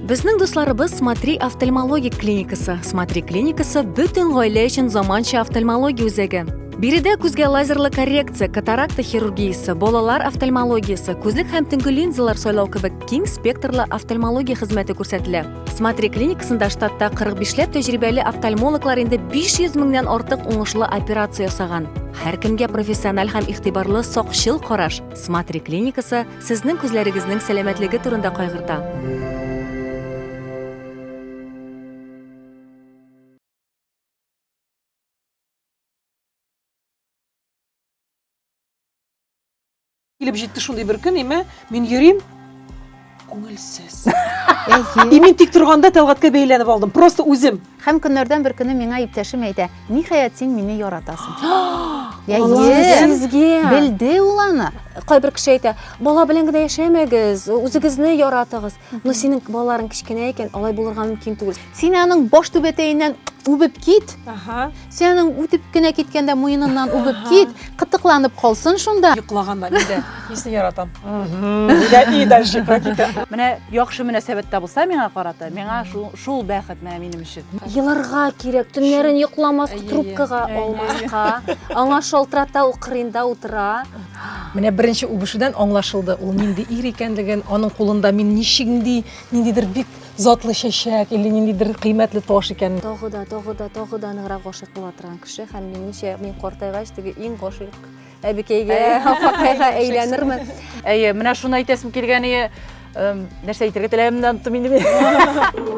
Безнең дусларыбыз Смотри офтальмологик клиникасы. Смотри клиникасы бөтен гаилә өчен заманча офтальмология үзәге. Биредә күзгә лазерлы коррекция, катаракта хирургиясе, балалар офтальмологиясе, күзлек һәм төнге линзалар сайлау кебек киң спектрлы офтальмология хезмәте күрсәтелә. Смотри клиникасында штатта 45ләп тәҗрибәле офтальмологлар инде 500 меңнән артык уңышлы операция ясаган. Һәркемгә профессиональ һәм игътибарлы сакчыл караш. Смотри клиникасы Сезнең күзләрегезнең сәламәтлеге турында кайгырта. килеп җитте шундый бер көн име мин йөрим күңелсез и мин тик торганда тәлгаткә бәйләнеп алдым просто үзем Һәм көннәрдән бер көне миңа иптәшем әйтә, ниһаять син мине яратасың. Я Сезгә. Белде ул аны. Кайбер кеше әйтә, бала белән генә яшәмәгез, үзегезне яратыгыз. Но синең балаларың кечкенә икән, алай булырга мөмкин түгел. Син аның баш түбәтәеннән үбеп кит. Ага. Сенің үтіп кенә киткәндә муеныннан үбеп кит, кытыкланып калсын шунда. Йоклаганда нидә? Нисен яратам? И дальше практика. Менә яхшы мөнәсәбәттә булса миңа карата, миңа шул шул бәхет менә минем өчен. Еларга кирәк, төннәрен йокламас, трубкага алмаска. Аңа шалтырата, ул кырыенда утыра. Менә беренче үбешүдән аңлашылды, ул нинди ир икәнлеген, аның кулында мин ничек нинди, ниндидер бик затлы чәчәк или ниндидер кыйммәтле таш икән. Тагы да, тагы да, тагы да ныграк гашыйк була торган кеше һәм минемчә, мин картайгач теге иң гашыйк әбекәйгә, апакайга әйләнермен. Әйе, менә шуны әйтәсем килгән ие. Нәрсә әйтергә теләгәнемне оныттым инде мин.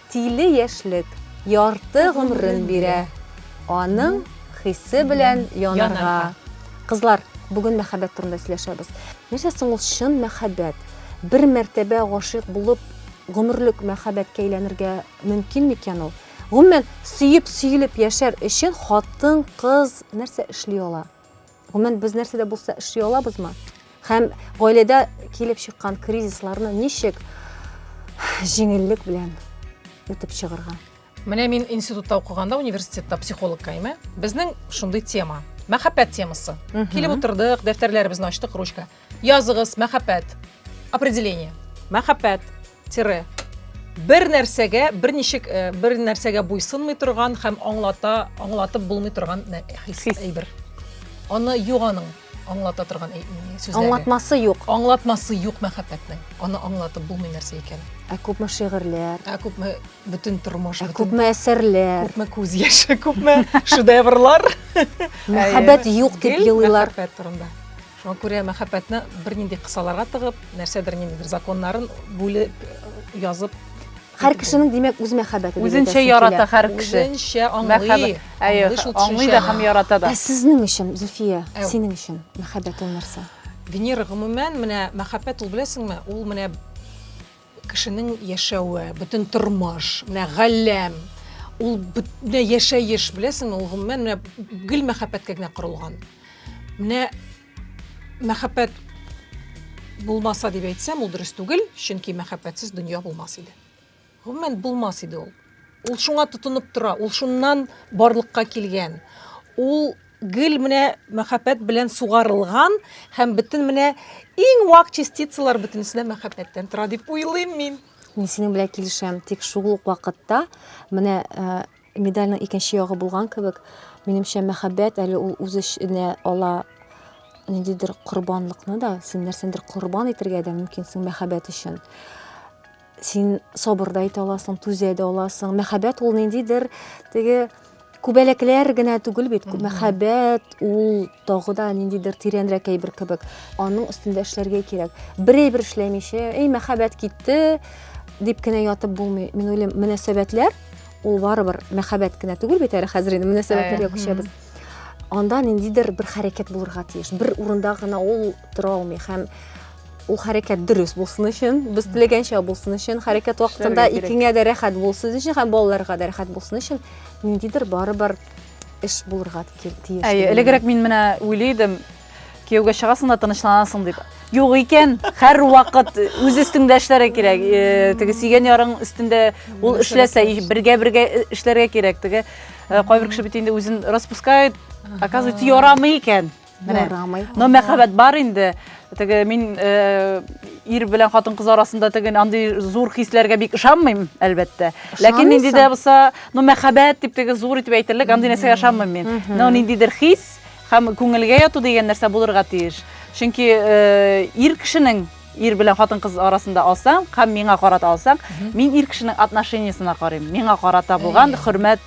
Тиле яшьлек ярты гомрен бирә, аның хисе белән янарга. Кызлар, бүген мәхәббәт турында сөйләшәбез. Нәрсә соң ул чын мәхәббәт? Бер мәртәбә гашыйк булып, гомерлек мәхәббәткә әйләнергә мөмкин микән ул? Гомумән, сөеп-сөелеп яшәр өчен хатын-кыз нәрсә эшли ала? Гомумән, без нәрсә дә булса эшли алабызмы? Һәм гаиләдә килеп чыккан кризисларны ничек җиңеллек белән үтеп чыгарга? Менә мин институтта укыганда университетта психолог кайме. Безнең шундый тема. Мәхәббәт темасы. Килеп утырдык, дәфтәрләребезне ачтык, ручка. Языгыз, мәхәббәт. Определение. Мәхәббәт, тире. Бер нәрсәгә, бер ничек, э, бер нәрсәгә буйсынмый торган һәм аңлата, аңлатып булмый торган нә- хис, Хис. әйбер. Аны юк аның аңлата торган әй- сүзләре. Аңлатмасы юк. Аңлатмасы юк мәхәббәтнең. Аны аңлатып булмый нәрсә икән. Ә күпме шигырьләр, Ә күпме бөтен тормыш, ә бөтен күпме әсәрләр. күпме күз яше, күпме шедеврлар. Мәхәббәт юк дип Гел елыйлар. Мәхәббәт турында. Шуңа күрә мәхәббәтне бернинди кысаларга тыгып, нәрсәдер ниндидер законнарын бүлеп, язып Һәр кешенең, димәк, үз мәхәббәте. Үзенчә ярата һәр кеше. Үзенчә аңлый. Әйе, аңлый да һәм ярата да. Ә сезнең өчен, Зөфия, синең өчен мәхәббәт ул нәрсә? Венера, гомумән, менә мәхәббәт ул, беләсеңме, ул менә Кешенең яшәве, бөтен тормыш, менә галәм, ул бөтенләй яшәеш, беләсеңме, ул гомумән менә гел мәхәббәткә генә корылган. Менә мәхәббәт булмаса дип әйтсәм, ул дөрес түгел, чөнки мәхәббәтсез дөнья булмас иде. Гомумән булмас иде ул. Ул шуңа тотынып тора, ул шуннан барлыкка килгән. Ул Гел менә мәхәббәт белән сугарылган һәм бөтен менә иң вак частицалар бөтенесе дә мәхәббәттән тора дип уйлыйм мин. Мин синең белән килешәм, тик шул ук вакытта менә э, медальның икенче ягы булган кебек, минемчә мәхәббәт әле ул үз эченә ала ниндидер корбанлыкны да, син нәрсәндер корбан итәргә дә мөмкинсең мәхәббәт өчен. син сабыр да итә аласың түзә дә аласың мәхәббәт ул ниндидер теге күбәләкләр генә түгел бит мәхәббәт ул тагы да ниндидер тирәнрәк әйбер кебек аның өстендә эшләргә кирәк бер әйбер эшләмичә эй мәхәббәт китте дип кенә ятып булмый мин уйлыйм мөнәсәбәтләр ул барыбер мәхәббәт кенә түгел бит әле хәзер инде мөнәсәбәтләргә күчәбез анда ниндидер бер хәрәкәт булырга тиеш бер урында гына ул тора алмый һәм ул хәрәкәт дөрес булсын өчен без теләгәнчә булсын өчен хәрәкәт вакытында икеңә дә рәхәт булсын өчен һәм балаларга да рәхәт булсын өчен ниндидер барыбер эш булырга тиеш әйе элегрәк мин менә уйлый идем кияүгә чыгасың да тынычланасың дип юк икән һәрвакыт үз өстеңдә эшләргә кирәк э, теге сөйгән ярың өстендә ул эшләсә бергә бергә э, эшләргә кирәк теге э, кайбер кеше бит инде үзен распускает оказывается ярамый икән Ярамый. Но мәхәббәт бар инде. Теге мин э, ир белән хатын-кыз арасында теге андый зур хисләргә бик ышанмыйм, әлбәттә. Ләкин нинди дә булса, ну мәхәббәт дип теге зур итеп әйтерлек андый нәрсәгә ышанмыйм мин. Но ниндидер хис һәм күңелгә яту дигән нәрсә булырга тиеш. Чөнки э, ир кешенең Ир белән хатын-кыз арасында алсаң һәм миңа карата алсаң, мин ир кешенең отношениясенә карыйм. Миңа карата булган хөрмәт,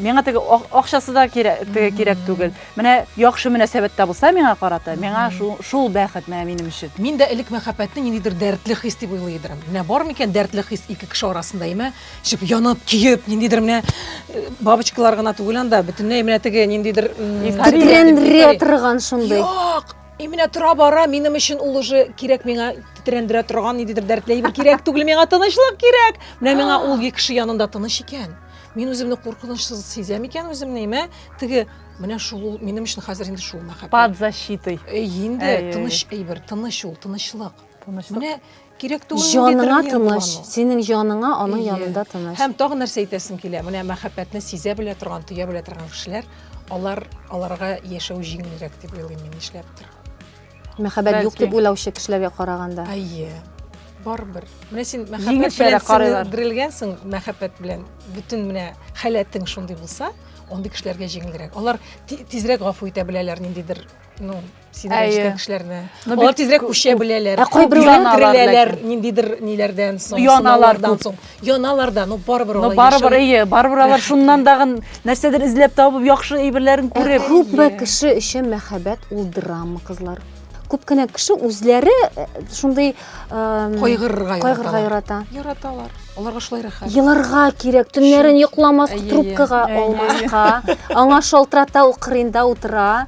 миңа теге акчасы да кирәк, теге кирәк түгел. Менә яхшы мөнәсәбәттә булса миңа карата, миңа шул, шул бәхет менә минем өчен. Мин дә элек мәхәббәтне ниндидер дәртле хис дип уйлый идем. Менә бар микән дәртле хис ике кеше арасында, имә, чып янып, киеп, ниндидер менә э, бабочкалар гына түгел анда, бөтенләй менә теге ниндидер... Тетрәндерә торган шундый. Юк, И менә тора бара минем өчен ул уже кирәк миңа тетрәндерә торган ниндидер дәртле бер кирәк түгел миңа тынычлык кирәк менә миңа ул кеше янында тыныч икән мин үземне куркынычсыз сизәм икән үземне мә теге менә шул ул минем өчен хәзер инде шул мәхәббәт под защитой инде тыныч әйбер тыныч ул тынычлык тынычлык менә кирәк түгел җаныңа тыныч синең җаныңа аның янында тыныч һәм тагын нәрсә әйтәсем килә менә мәхәббәтне сизә белә торган тоя белә торган кешеләр алар аларга яшәү җиңелрәк дип уйлыйм мин нишләптер мәхәббәт юк дип уйлаучы кешеләргә караганда әйе барыбер менә син мәхәббәт белән сеңдерелгәнсең мәхәббәт белән бөтен менә халәтең шундый булса андый кешеләргә җиңелрәк алар тизрәк гафу итә беләләр ниндидер ну сидергәнче кешеләрне. Алар тизрәк күчә беләләр. Ә кайбер яналар, ниндидер ниләрдән соң, яналардан соң. Яналардан, ну барыбер алар. Ну барыбер, әйе, барыбер алар шуннан дагы нәрсәдер эзләп табып, яхшы әйберләрен күреп. Күпме кеше өчен мәхәббәт ул драма, кызлар. Күп кенә кеше үзләре шундый кайгырырга кайгырырга ярата яраталар аларга шулай рәхәт еларга кирәк төннәрен йокламаска трубкага алмаска аңа шалтырата ул кырыенда утыра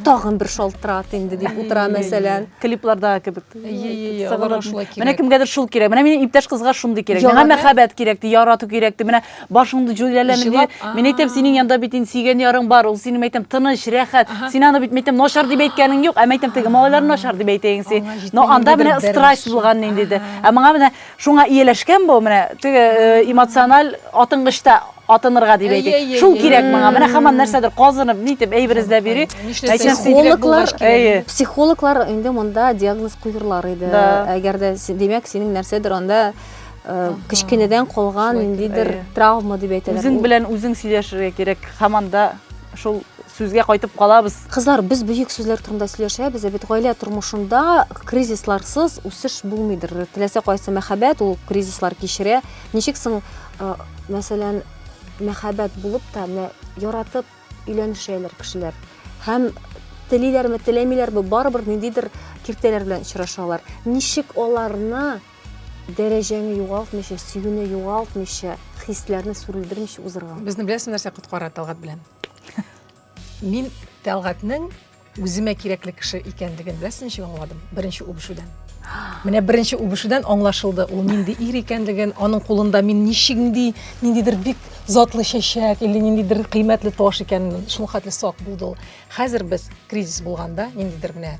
тагын бер шалтырат инде дип утыра мәсәлән клипларда кебек менә кемгәдер шул кирәк менә минем иптәш кызга шундый кирәк миңа мәхәббәт кирәк ди ярату кирәк ди менә Башыңды җүләләмә. Җылап, а. Мин әйтәм, синең янда бит инде сөйгән ярың бар, ул синең әйтәм тыныч, рәхәт. Ага. Син аны бит мәйтәм начар дип әйткәнең юк, ә мәйтәм теге малайлар начар дип әйтәйең син. Аңа җитми Но инде анда бер менә бер страсть нәрсә. булган нинди дә. Ага. Ә моңа менә шуңа ияләшкән бу менә теге э, эмоциональ атынгычта атынырга дип Әйе, әйтик. әйе, Шул әйе. кирәк моңа. Менә хаман нәрсәдер казынып, нитеп әйбер эзләп йөри. Нишләсә, Мәйтәм, син- син кирәк булгач кирәк. Әйе. Психологлар инде монда диагноз куерлар иде. Да. Әгәр дә, син- димәк, синең нәрсәдер анда э, кечкенәдән калган ниндидер травма дип әйтәләр. Үзең белән үзең сөйләшергә кирәк. Һаман да шул сүзгә кайтып калабыз. Кызлар, без бөек сүзләр турында сөйләшәбез, ә бит гаилә тормышында кризисларсыз үсеш булмыйдыр. Теләсә кайсы мәхәббәт ул кризислар кичерә. Ничек соң, э, мәсәлән, мәхәббәт булып та менә яратып өйләнешәләр кешеләр. Һәм телиләрме, теләмиләрме, барыбер ниндидер киртәләр белән очрашалар. Ничек аларны Дәрәҗәңне югалтмыйча, сөюне югалтмыйча, хисләрне сүрелдермичә узырга. Безне беләсең нәрсә коткара Тәлгат белән? Мин Тәлгатнең үземә кирәкле кеше икәнлеген беләсең ничек аңладым? Беренче үбешүдән. Менә беренче үбешүдән аңлашылды, ул нинди ир икәнлеген, аның кулында мин ничек нинди, ниндидер бик затлы чәчәк или ниндидер кыйммәтле таш икәнен, шул хәтле сак булды ул. Хәзер без кризис булганда ниндидер менә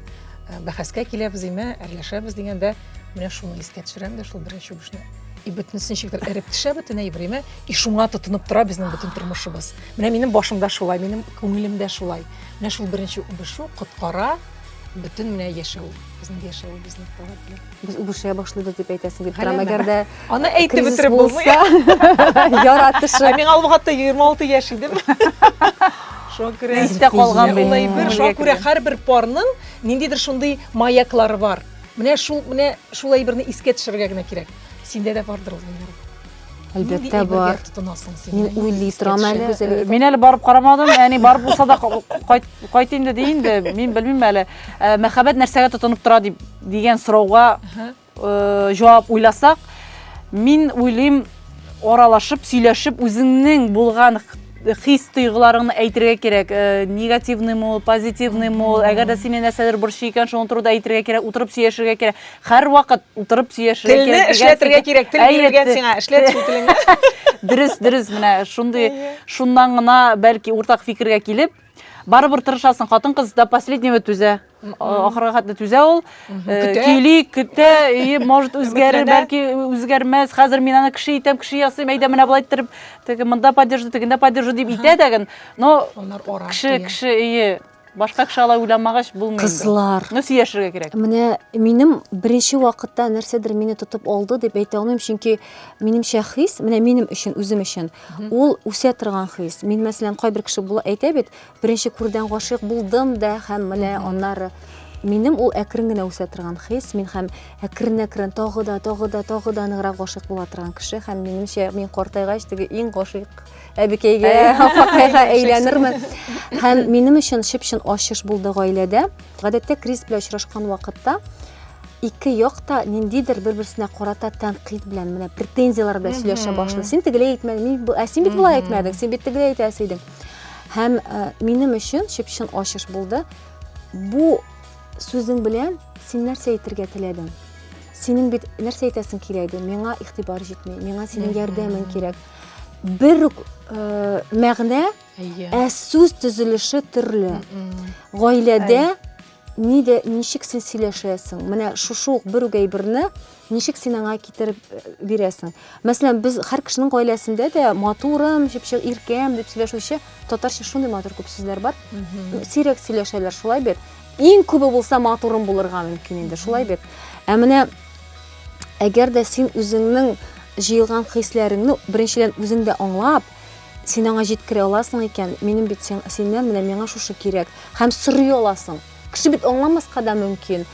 бәхәскә киләбез име, әрләшәбез дигәндә, менә шуны искә төшерәм дә шул беренче үбешне. И бөтенесен шикелле эреп төшә бөтен әйбереме, и шуңа тотынып тора безнең бөтен тормышыбыз. Менә минем башымда шулай, минем күңелемдә шулай. Менә шул беренче үбешү коткара бөтен менә яшәү, безнең яшәүебезне таләп Без үбешә башлыйбыз дип әйтәсең килеп тора, мәгәр дә Аны әйтеп бетереп булмый. Яратышы. Ә мин алгатта 26 яшь идем. Шуңа күрә истә калган булмый бер. Шуңа күрә һәрбер парның ниндидер шундый маяклары бар. Менә шул, менә шул әйберне искә төшерергә генә кирәк. Синдә дә бардыр ул. Әлбәттә бар. Мин уйлый торам әле. Мин әле барып карамадым. Әни барып булса да кайт кайт инде ди инде. Мин белмим әле. Э, мәхәббәт нәрсәгә тотынып тора дип дигән сорауга э, җавап уйласак, мин уйлыйм, аралашып, сөйләшеп, үзеңнең булган хис тойгыларыңны әйтергә кирәк э, негативныймы ул позитивныймы ул әгәр дә сине нәрсәдер борчый икән шуны турыда әйтергә кирәк утырып сөйләшергә кирәк Һәрвакыт утырып сөйләшергә кирәк. Телне эшләтергә кирәк, тел бирелгән сиңа, эшләт шул телеңне. Дөрес, дөрес, менә шундый, шуннан гына бәлки уртак фикергә килеп, барыбер тырышасың, хатын-кыз до последнего түзә. Ахырга хәтле түзә ул. Э, көйли, көтә, и, может, үзгәрер, бәлки үзгәрмәс. Хәзер мин аны кеше итәм, кеше ясыйм, әйдә менә болай иттереп, теге монда поддержу, тегендә поддержу дип итә дә, но кеше, кеше, и, Башка кеше алай уйламагач булмый. Кызлар. Ну сөйләшергә кирәк. Менә минем беренче вакытта нәрсәдер мине тотып алды дип әйтә алмыйм, чөнки минемчә хис, менә минем өчен, үзем өчен, ул үсә торган хис. Мин мәсәлән, кайбер кеше була әйтә бит, беренче күрдән гашыйк булдым да һәм менә аннары минем ул әкрен генә үсә торган хис, мин һәм әкрен-әкрен тагы да, тагы да, тагы да ныграк гашыйк була торган кеше һәм минемчә мин картайгач теге иң гашыйк әбекәйгә, апакайга әйләнермен. Һәм минем өчен чып-чын ачыш булды гаиләдә. Гадәттә Крис белән очрашкан вакытта ике як та ниндидер бер-берсенә карата тәнкыйть белән менә претензияләр белән сөйләшә башлый. Син тегеләй әйтмәдең, ә син бит болай әйтмәдең, син бит тегеләй әйтәсе идең. Һәм э, минем өчен чып-чын ачыш булды. Бу сүзең белән син нәрсә әйтергә теләдең? Синең бит нәрсә әйтәсең килә иде? Миңа игътибар җитми, миңа синең ярдәмең кирәк. бер үк э, мәгънә, ә сүз төзелеше төрле. Гаиләдә ни дә ничек син сөйләшәсең? Менә шушы ук бер үк әйберне ничек син аңа китереп э, бирәсең? Мәсәлән, без һәр кешенең гаиләсендә дә матурым, җепшек иркәм дип сөйләшүче татарча шундый матур күп сүзләр бар. Сирәк сөйләшәләр, шулай бит. Иң күбе булса матурым булырга мөмкин инде, шулай бит. Ә менә Әгәр дә син үзеңнең җыелган хисләреңне беренчедән үзең дә аңлап, син аңа җиткерә аласың икән, минем бит синнән менә миңа шушы кирәк, һәм сорый аласың. Кеше бит аңламаска да мөмкин.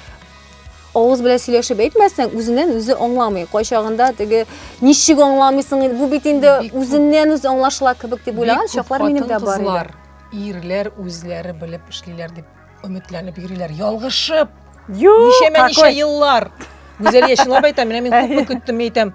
Авыз белән сөйләшеп әйтмәсәң, үзеннән үзе аңламый. Кайчагында теге ничек аңламыйсың инде, бу бит инде үзеннән үзе аңлашыла кебек дип уйлаган чаклар минем дә бар иде. Ирләр үзләре белеп эшлиләр дип Өметләнеп йөриләр, ялгышып. Юк, Ничәмә ничә какой? еллар. Гүзәл яшенлап әйтәм, менә мин күпме көттем әйтәм.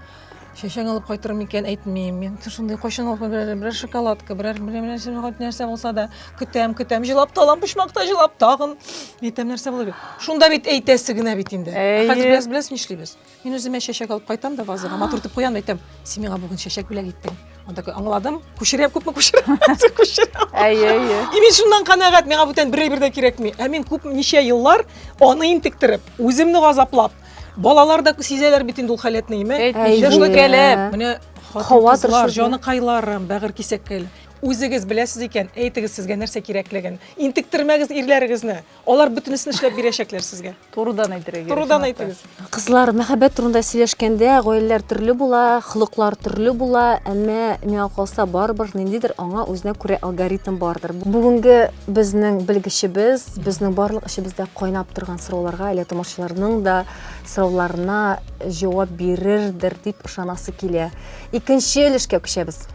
Чәчәң алып кайтыр микән әйтмим. Мин шундый кайчан алып берәр, берәр шоколадка, берәр берәр берәр нәрсә- хоть нәрсә булса да көтәм, көтәм, җылап та алам, почмакта җылап тагын. Әйтәм нәрсә булыр бит. Шунда бит әйтәсе генә бит инде. Ә Әйе. Хәзер без беләсез нишлибез? Мин үземә чәчәк алып кайтам да вазага, матур итеп куям, әйтәм, син миңа бүген чәчәк бүләк иттең. Он такой, аңладым, күчерәм, күпме күчерәм, күчерәм. Әйе, әйе. И мин шуннан канәгать, миңа бүтән бер әйбер дә кирәкми. Ә мин күп ничә еллар аны интектереп, үземне газаплап, балалар да сизәләр бит инде ул халәтне, име? Әйтмичә, шулай кәләп. Менә хатын-кызлар, җаныкайларым, бәгырь кисәккәйләр. Үзегез беләсез икән, әйтегез сезгә нәрсә кирәклеген. Интектермәгез ирләрегезне. Алар бөтенесен эшләп бирәчәкләр сезгә. Турыдан әйтергә кирәк. Турыдан әйтегез. Кызлар, мәхәббәт турында сөйләшкәндә, гаиләләр төрле була, холыклар төрле була, әмма миңа калса, барыбер ниндидер аңа үзенә күрә алгоритм бардыр. Бүгенге безнең белгечебез, безнең барлык эчебездә кайнап торган сорауларга, әле тамашачыларның да сорауларына җавап бирердер дип ышанасы килә. Икенче өлешкә күчәбез.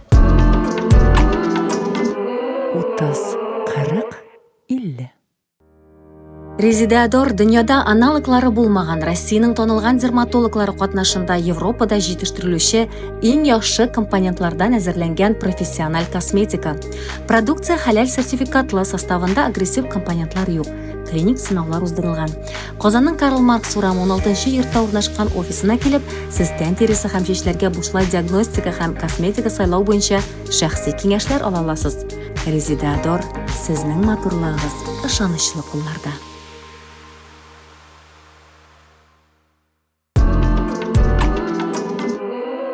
Утыз, кырык, 50. Резидеадор дөньяда аналоглары булмаган Россиянең танылган дерматологлары катнашында Европада җитештерелүче иң яхшы компонентлардан әзерләнгән профессиональ косметика. Продукция хәләл сертификатлы, составында агрессив компонентлар юк. Клиник сынаулар уздырылган. Казанның Карл Маркс урамы 16 йортта урнашкан офисына килеп, сез тән тиресе һәм чәчләргә бушлай диагностика һәм косметика сайлау буенча Шәхси киңәшләр ала аласыз. Резеда Дор, сезнең матурлыгыгыз ышанычлы кулларда.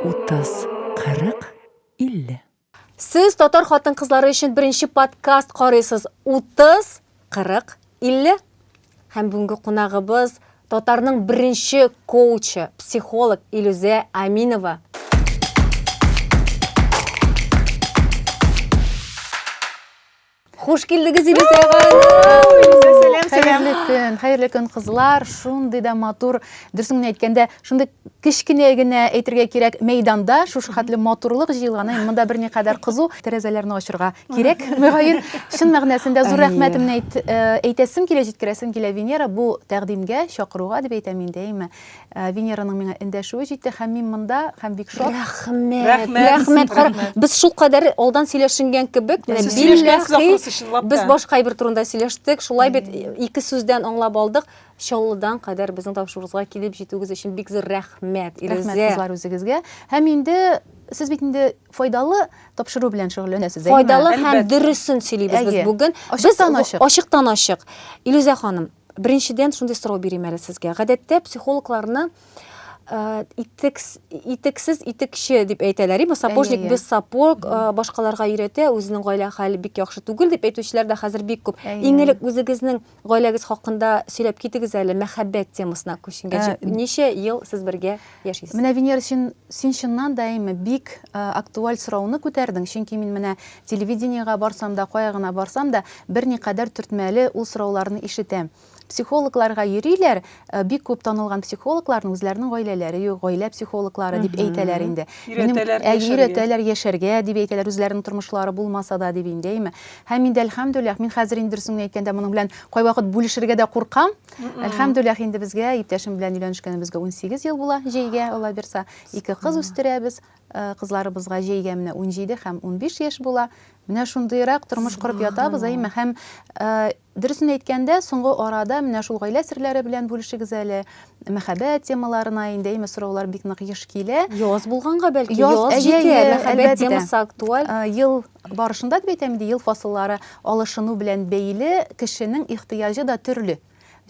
Утыз, кырык, илле. Сез татар хатын-кызлары өчен беренче подкаст карыйсыз. Утыз, 40, 50 һәм бүгенге кунагыбыз татарның беренче коучы, психолог Илүзә Аминова. Хуш килдегез, Илүзә Хәерле көн, хәерле көн, кызлар. Шундый да матур, дөресен генә әйткәндә, шундый Кечкенә генә, әйтергә кирәк, мәйданда шушы хәтле матурлык җыелганы, монда берникадәр кызу, тәрәзәләрне ачырга кирәк, мөгаен. Чын мәгънәсендә зур рәхмәтемне әйт, әйтәсем килә, җиткерәсем килә, Венера, бу тәкъдимгә, чакыруга дип әйтәм инде, әйме. Венераның миңа эндәшүе җитте һәм мин монда һәм бик шат. Рәхмәт! Рәхмәт! Кара, без шулкадәр алдан сөйләшенгән кебек, менә билләхи, без башка әйбер турында сөйләштек, шулай бит, ике сүздән аңлап алдык. Чаллыдан кадәр безнең тапшыруыбызга килеп җитүегез өчен бик зур рәхмәт, Илүзә! Рәхмәт, кызлар, үзегезгә. Һәм инде сез бит инде файдалы тапшыру белән шөгыльләнәсез, әйеме? Файдалы һәм дөресен сөйлибез без бүген. Ачыктан-ачык. Ачыктан-ачык. Илүзә ханым, беренчедән шундый сорау бирим әле сезгә. Гадәттә психологларны итексез итекче дип әйтәләр, ибо сапожник без сапог, башкаларга өйрәтә, үзенең гаилә хәле бик яхшы түгел дип әйтүчеләр дә хәзер бик күп. Иң элек үзегезнең Гаиләгез хакында сөйләп китегез әле, мәхәббәт темасына күченгәч. Ә, Ничә ел сез бергә яшисез? Менә Венера син, син чыннан да әйме бик ә, актуаль сорауны күтәрдең, чөнки мин менә телевидениегә барсам да, кая гына барсам да, берникадәр төртмәле ул сорауларны ишетәм. Психологларга йөриләр, Э, бик күп танылган психологларның үзләренең гаиләләре юк, гаилә психологлары дип әйтәләр инде. Өйрәтәләр ә, яшәргә. Өйрәтәләр яшәргә дип әйтәләр, үзләренең тормышлары булмаса да дип инде, әйме. Һәм инде әлхәмдүлилләһ, мин хәзер инде дөресен әйткәндә моның белән кайвакыт бүлешергә дә куркам. Әлхәмдүлилләһ инде безгә иптәшем белән өйләнешкәнебезгә 18 ел була, җәйгә Алла бирса, ике кыз үстерәбез. Э, кызларыбызга җәйгә менә 17 һәм 15 яшь була. Менә шундыйрак тормыш корып ятабыз, әйме. Һәм э, Дөресен әйткәндә, соңгы арада менә шул гаилә серләре белән бүлешегез әле. Мәхәббәт темаларына инде, әйме, сораулар бик нык еш килә. Яз булганга бәлки, яз җитә, мәхәббәт темасы актуаль. Ел барышында дип әйтәм инде, ел фасыллары алышыну белән бәйле кешенең ихтыяҗы да төрле.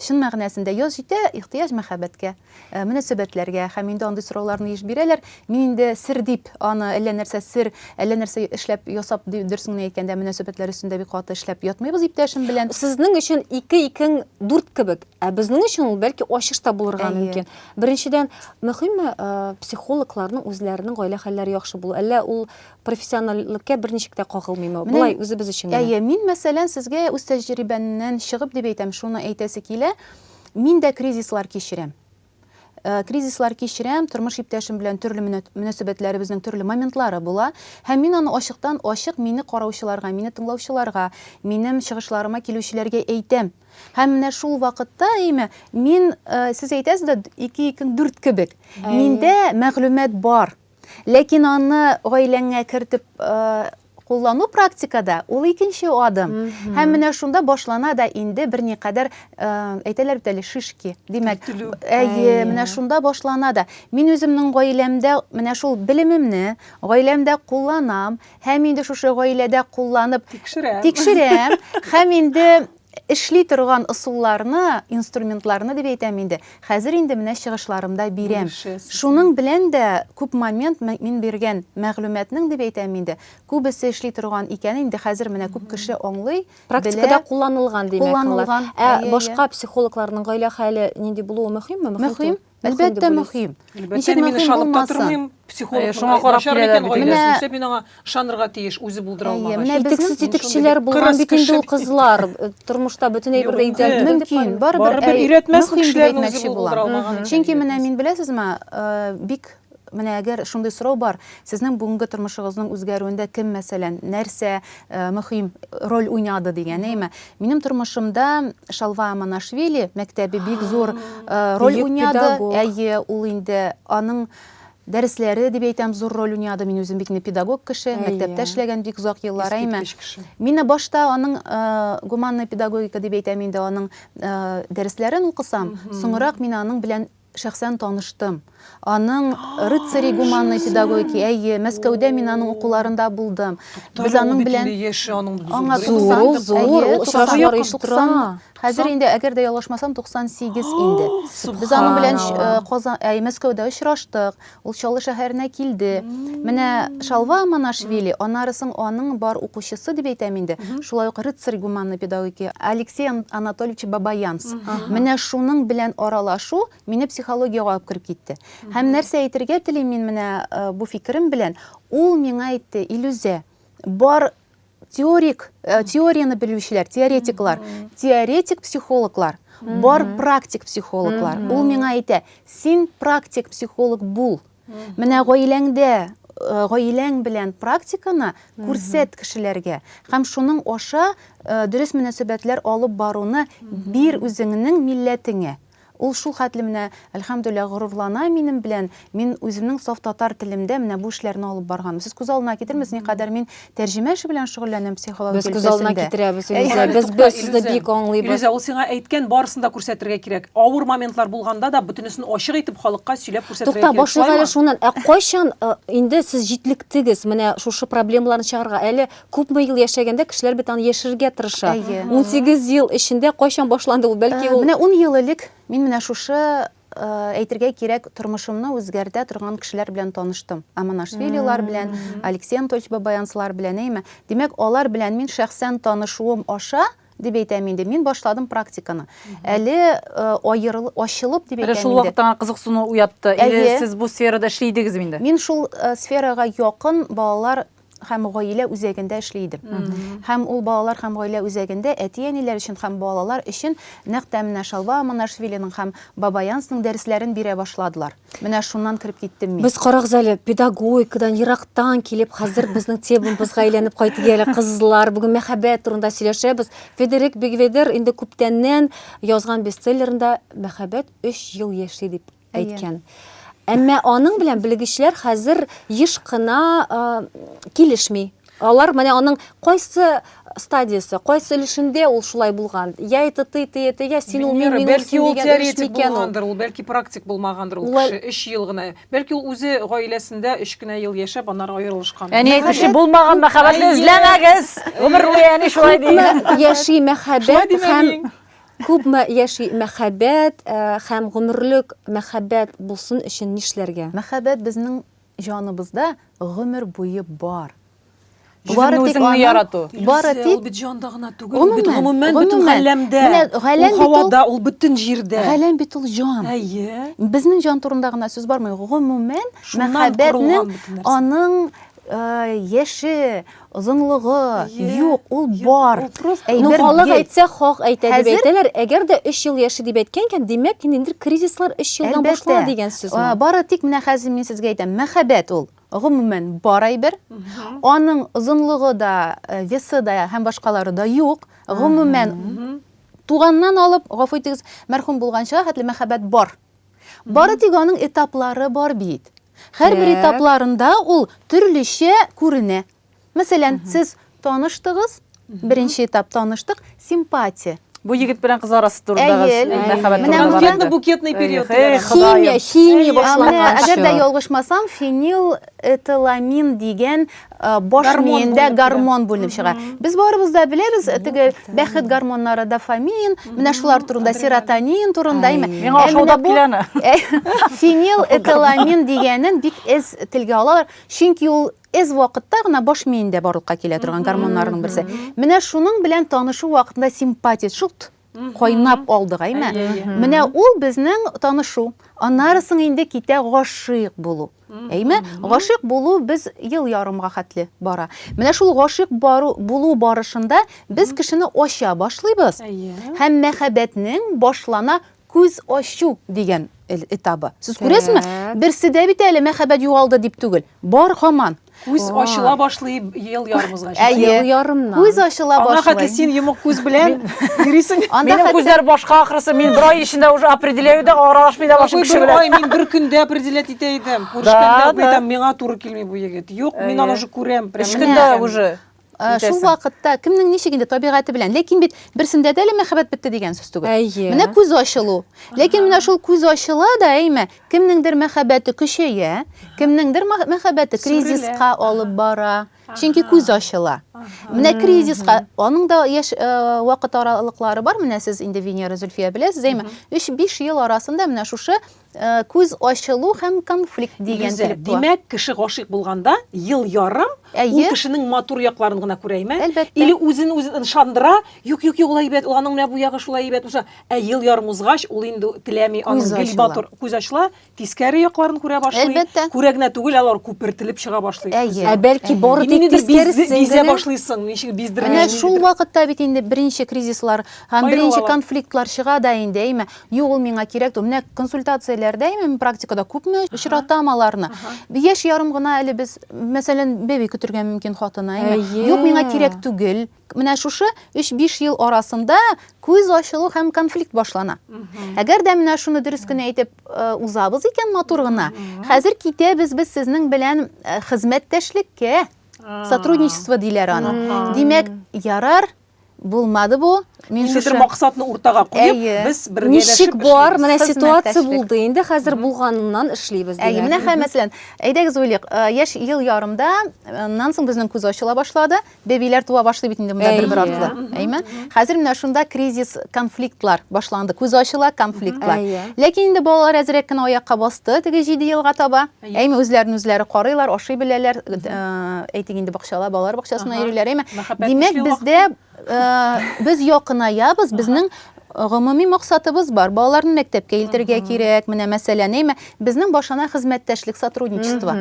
Чын мәгънәсендә яз җитә, ихтыяҗ мәхәббәткә. мөнәсәбәтләргә һәм инде андый сорауларны еш бирәләр. Мин инде сер дип аны әллә нәрсә сер, әллә нәрсә эшләп ясап дөресен генә әйткәндә мөнәсәбәтләр өстендә бик каты эшләп ятмыйбыз иптәшем белән. Сезнең өчен ике икең дүрт кебек, ә безнең өчен ул бәлки ачыш та булырга мөмкин. Беренчедән, мөһимме психологларның үзләренең гаилә хәлләре яхшы булу, әллә ул профессиональлеккә берничек тә кагылмыймы? Болай үзебез өчен генә. Әйе, мин мәсәлән сезгә үз тәҗрибәмнән чыгып дип әйтәм, шуны әйтәсе килә. Мин дә кризислар кичерәм. Кризислар кичерәм, тормыш иптәшем белән төрле мөнәсәбәтләребезнең төрле моментлары була. Һәм мин аны ачыктан-ачык мине караучыларга, мине тыңлаучыларга, минем чыгышларыма килүчеләргә әйтәм. Һәм менә шул вакытта, әйме, мин, сез әйтәсез дә, ике икең дүрт кебек. Миндә мәгълүмат бар. Ләкин аны гаиләңә кертеп куллану практикада ул икенче адым. Һәм менә шунда башлана да инде берникадәр э, әйтәләр бит әле шишки. Димәк, әйе, менә шунда башлана да. Мин үземнең гаиләмдә менә шул белемемне гаиләмдә кулланам һәм инде шушы гаиләдә кулланып тикшерәм. Тикшерәм һәм инде Эшли торган ысулларны, инструментларны дип әйтәм инде, хәзер инде менә чыгышларымда бирәм. Шуның белән дә күп момент мин биргән мәгълүматның дип әйтәм инде, күбесе эшли торган икән инде, хәзер менә күп кеше аңлый, белә. Практикада кулланылган, димәк, алар. Кулланылган, әйе, әйе. Ә башка психологларның гаилә хәле нинди булуы мөһимме? Мөһим. Әлбәттә мөһим. Ничек мөһим булмасын? Психолог э, шуңа карап киләләр бит. Менә нишләп мин аңа ышанырга тиеш, үзе булдыра алмагач. Менә безнең титекчеләр булган бит инде ул кызлар. Э, тормышта бөтен әйбердә идеаль мөмкин. Барыбер өйрәтмәс кешеләрне үзе булдыра алмаган. Чөнки менә мин беләсезме, э, бик Менә әгәр шундый сорау бар, сезнең бүгенге тормышыгызның үзгәрүендә кем, мәсәлән, нәрсә мөһим роль уйнады дигән, әйме? Минем тормышымда Шалва Аманашвили мәктәбе бик зур роль уйнады. Әйе, ул инде аның дәресләре дип әйтәм, зур роль уйнады. Мин үзем бит инде педагог кеше, мәктәптә эшләгән бик озак еллар, әйме? Мин башта аның гуманная педагогика дип әйтәм инде, аның дәресләрен укысам, соңрак мин аның белән Шәхсән таныштым. Аның Рыцари гуманной педагогики, әйе, Мәскәүдә мин аның укуларында булдым. Без аның белән Аңа 90, хәзер инде, әгәр дә ялгышмасам, 98 инде. Без аның белән Мәскәүдә очраштык. Ул Чаллы шәһәренә килде. Менә Шалва Аманашвили, аннары соң аның бар укучысы дип әйтәм инде, шулай ук Рыцарь гуманной педагогики Алексей Анатольевич Бабаянц. Менә шуның белән аралашу мине психологиягә алып кереп китте. Һәм нәрсә әйтергә телим мин менә бу фикерем белән, ул миңа әйтте, Илүзә, бар Теорик, э, теорияны белүчеләр, теоретиклар, теоретик психологлар, бар практик психологлар. Ул миңа әйтә, син практик психолог бул. Менә гаиләңдә Э, гаиләң белән практиканы күрсәт кешеләргә һәм шуның аша э, дөрес мөнәсәбәтләр алып баруны бир үзеңнең милләтеңә Ул шул хәтле менә, әлхәмдүлилләһ, горурлана минем белән, мин үземнең саф татар телемдә менә бу эшләрне алып барганым. Сез күз алдына китермәс, никадәр мин тәрҗемә эше белән шөгыльләнәм психология өлкәсендә. Без күз алдына китерәбез, Илүзә. Без, без сезне бик аңлыйбыз. Илүзә, ул сиңа әйткән барысын да күрсәтергә кирәк. Авыр моментлар булганда да бөтенесен ачык итеп халыкка сөйләп күрсәтергә кирәк. Тукта, башлыйк әле шуннан. Ә кайчан инде сез җитлектегез менә шушы проблемаларны чыгарырга? Әле Күпме ел яшәгәндә кешеләр бит аны яшерергә тырыша. Әйе. 18 ел эчендә кайчан башланды ул? Бәлки ул Менә ун ел элек мин менә шушы, әйтергә кирәк, тормышымны үзгәртә торган кешеләр белән таныштым. Аманашвилилар белән, Алексей Анатольевич Бабаянцлар белән, әйеме? Димәк, алар белән мин шәхсән танышуым аша, дип әйтәм инде, мин башладым практиканы. Әле аерыл, ачылып дип әйтәм инде. Әле шул вакытта гына кызыксыну уятты. Әйе. Или сез бу сферада эшли идегезме инде? Мин шул сферага якын балалар һәм гаилә үзәгендә эшли идем. Һәм ул балалар һәм гаилә үзәгендә әти-әниләр өчен һәм балалар өчен нәкъ тә менә Шалва Аманашвилиның һәм Баба Янсның дәресләрен бирә башладылар. Менә шуннан кереп киттем мин. Без карагыз әле, педагогикадан ерактан килеп, хәзер безнең темабызга әйләнеп кайтты әле, кызлар. Бүген мәхәббәт турында сөйләшәбез. Федерик Бигведер инде күптәннән язган бестселлерында мәхәббәт өч ел яши дип әйткән. Әмма аның белән белгечләр хәзер еш кына килешми. Алар менә аның кайсы стадиясе, кайсы өлешендә ул шулай булган? Я это ты, ты это я, син ул мин, мин ул син дигән өлеш микән ул? Ул бәлки практик булмагандыр ул кеше, 3 ел гына. Бәлки ул үзе гаиләсендә 3 кенә ел яшәп, аннары аерылышкан. Әни әйтүче булмаган мәхәббәтне эзләмәгез. Гомер буе әни шулай ди. Яши мәхәббәт һәм Күпме яши мәхәббәт э, һәм гомерлек мәхәббәт булсын өчен нишләргә? Мәхәббәт безнең җаныбызда гомер буе бар. Бары тик үзеңне аның- ярату. Бары Илюсә, тик ул бит җанда гына түгел, ул бит Гомумән, гомумән бөтен гомумән. галәмдә. Менә галәм ул бит ул- һавада, ул бөтен җирдә. галәм бит ул җан. Әйе. Безнең җан турында гына сүз бармый. Гомумән, Шуннан мәхәббәтнең корылган бөтен нәрсә. аның э, яше, озынлыгы юк, ул бар. Ну, халык әйтсә, хак әйтә дип әйтәләр. Әгәр дә 3 ел яши дип әйткән икән, димәк, ниндидер кризислар 3 елдан башлана дигән сүзме? Бары тик менә хәзер мин сезгә әйтәм, мәхәббәт ул, гомумән, бар әйбер. Аның озынлыгы да, весы да һәм башкалары да юк. Гомумән, туганнан алып, гафу итегез, мәрхүм булганчыга хәтле мәхәббәт бар. Бары тик аның этаплары бар бит. Һәрбер этапларында ул төрлечә күренә. Мәсәлән, сез таныштыгыз, беренче этап таныштык, симпатия. Бу егет белән кыз арасы турындагы мәхәббәт турында. Букетный, букетный период. Химия, химия башланган. Әгәр дә ялгышмасам, фенилэтиламин дигән баш гормон миендә гормон бүленеп чыга. Без барыбыз да беләбез, теге бәхет гормоннары дофамин, менә шулар турында серотонин турында әйме. Миңа ашаудап киләне. Фенил этиламин дигәнен бик эз телгә алалар, чөнки ул эз вакытта гына баш миендә барлыкка килә торган гормоннарның берсе. Менә шуның белән танышу вакытында симпатия шут кайнап алдык, әйме? Менә ул безнең танышу. Аннары соң инде китә гашыйк булу. Әйме? Гашыйк булу без ел ярымга хәтле бара. Менә шул гашыйк бару булу барышында без кешене ача башлыйбыз. Һәм мәхәббәтнең башлана күз ачу дигән этабы. Сез күрәсезме? Берсе дә бит әле мәхәббәт югалды дип түгел. Бар хаман. Күз ачыла башлый ел ярымызга. Әйе. Ел ярымнан. Күз ачыла башлый. Ана хәтле син йомык күз белән йөрисең. Минем күзләр башка ахрысы. Мин бер ай эчендә уже определяю да, аралашмый да башлыйм кеше белән. Ой, мин бер көндә определять итә идем. Күрешкәндә әйтәм, миңа туры килми бу егет. Юк, мин аны уже күрәм. Өч көндә уже. Ә, шул вакытта кемнең ничек инде табигате белән ләкин бит берсендә дә әле мәхәббәт бетте дигән сүз түгел әйе менә күз ачылу ләкин менә шул күз ачыла да әйме кемнеңдер мәхәббәте көчәя кемнеңдер мәхәббәте кризиска алып бара чөнки күз ачыла менә кризиска аның да яшь э, вакыт аралыклары бар менә сез инде венера зөлфия беләсез әйме өч биш ел арасында менә шушы Э, күз ачылу һәм конфликт дигән Лиза, килеп туа. Димәк, кеше гашыйк булганда ел ярым Әйе. ул кешенең матур якларын гына күрә име? Әлбәттә. Или үзен үзе ышандыра, юк, юк, юк, улай әйбәт, аның менә бу ягы шулай әйбәт булса, ә ел ярым узгач, ул инде теләми, аның гел матур күз ачыла, тискәре якларын күрә башлый. Әлбәттә. Күрә генә түгел, алар күпертелеп чыга башлый. Әйе. Ә бәлки бары тик тискәресе. Бизә башлыйсың, ничек биздермәй. Менә шул вакытта бит инде беренче кризислар һәм беренче конфликтлар чыга да инде, әйме? Юк, ул миңа кирәк түгел. Менә консультацияләрдә, именно практикада күпме очратам аларны. Яшь ярым гына әле без, мәсәлән, бәби көтергә мөмкин хатына, әйме? Юк, миңа кирәк түгел. Менә шушы 3-5 ел арасында күз ачылу һәм конфликт башлана. Әгәр дә менә шуны дөрес кенә әйтеп э, узабыз икән матур гына, хәзер китәбез без сезнең белән э, хезмәттәшлеккә. Сотрудничество диләр аны. Димәк, ярар, Булмады бу. Мин шушы... Нидер максатны уртага куеп, Әйе. без бергә Ничек бар, менә ситуация булды инде, хәзер булганыннан эшлибез. Әйе, менә хәзер мәсәлән, әйдәгез уйлыйк, э, яшь ел ярымда, э, аннан соң безнең күз ачыла башлады, бәбиләр туа башлый бит инде монда бер-бер артлы. Әйме? Хәзер менә шунда кризис, конфликтлар башланды. Күз ачыла, конфликтлар. Ләкин инде балалар әзрәк кенә аякка басты, теге 7 елга таба. Әйме, үзләрен үзләре карыйлар, ашый беләләр, әйтик инде бакчала, балалар бакчасына йөриләр, әйме. Димәк, бездә без якынаябыз, безнең гомуми максатыбыз бар. Балаларны мәктәпкә илтергә кирәк. Менә мәсәлән, әйме, безнең башына хезмәттәшлек сотрудничество.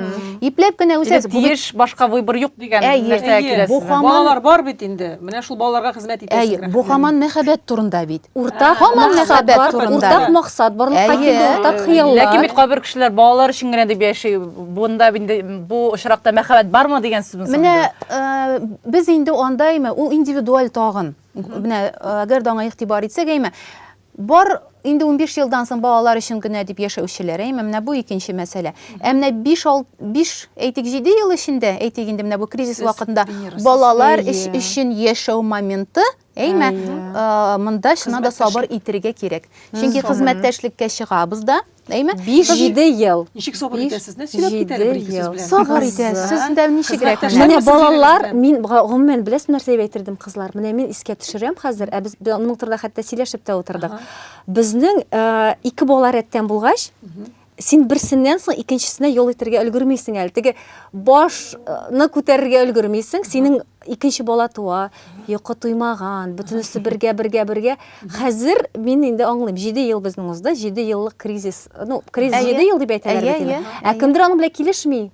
Ипләп кенә үзәк тиеш башка выбор юк дигән нәрсә киләсез. Балалар бар бит инде. Менә шул балаларга хезмәт итәсез. Әйе, бу хаман мәхәббәт турында бит. уртак Һаман максат мәхәббәт бар, турында. уртак максат барлыкка Әйе. килде, уртак Ләкин хыяллар. бит кайбер кешеләр балалар өчен генә дип яши. Бунда инде бу очракта мәхәббәт бармы дигән сүзме соң? Менә э, без инде андаймы, ул индивидуаль тагын. Менә э, әгәр дә аңа игътибар итсәк, әйме, бар инде 15 елдан соң балалар өчен генә дип яшәүчеләр, әйме, менә бу икенче мәсьәлә. Ә менә 5 ал- 5, әйтик, 7 ел эчендә, әйтик инде менә бу кризис Без вакытында тренерсыз. балалар Әйе. өч- өчен яшәү моменты Әйме, монда чына да сабыр итергә кирәк. Чөнки хезмәттәшлеккә чыгабыз да, әйме? 5-7 ел. Ничек сабыр итәсез? Нәрсә сөйләп китә әле бер сүз белән? Сабыр итәсез. Сез дә ничегрәк? Менә балалар, мин гомумән беләсез нәрсә дип әйтердем, кызлар? Менә мин искә төшерәм хәзер, ә без аның турында хәтта сөйләшеп тә утырдык. Безнең ике бала рәттән булгач, Син берсеннән соң икенчесенә ял итәргә өлгермисең әле. Теге башны күтәрергә өлгермисең. Синең икенче бала туа, йокы туймаган, бөтенесе бергә, бергә, бергә. Хәзер мин инде аңлыйм. 7 ел безнең узды, 7 еллык кризис. Ну, кризис 7 ел дип әйтәләр бит инде. Ә кемдер аның белән килешми.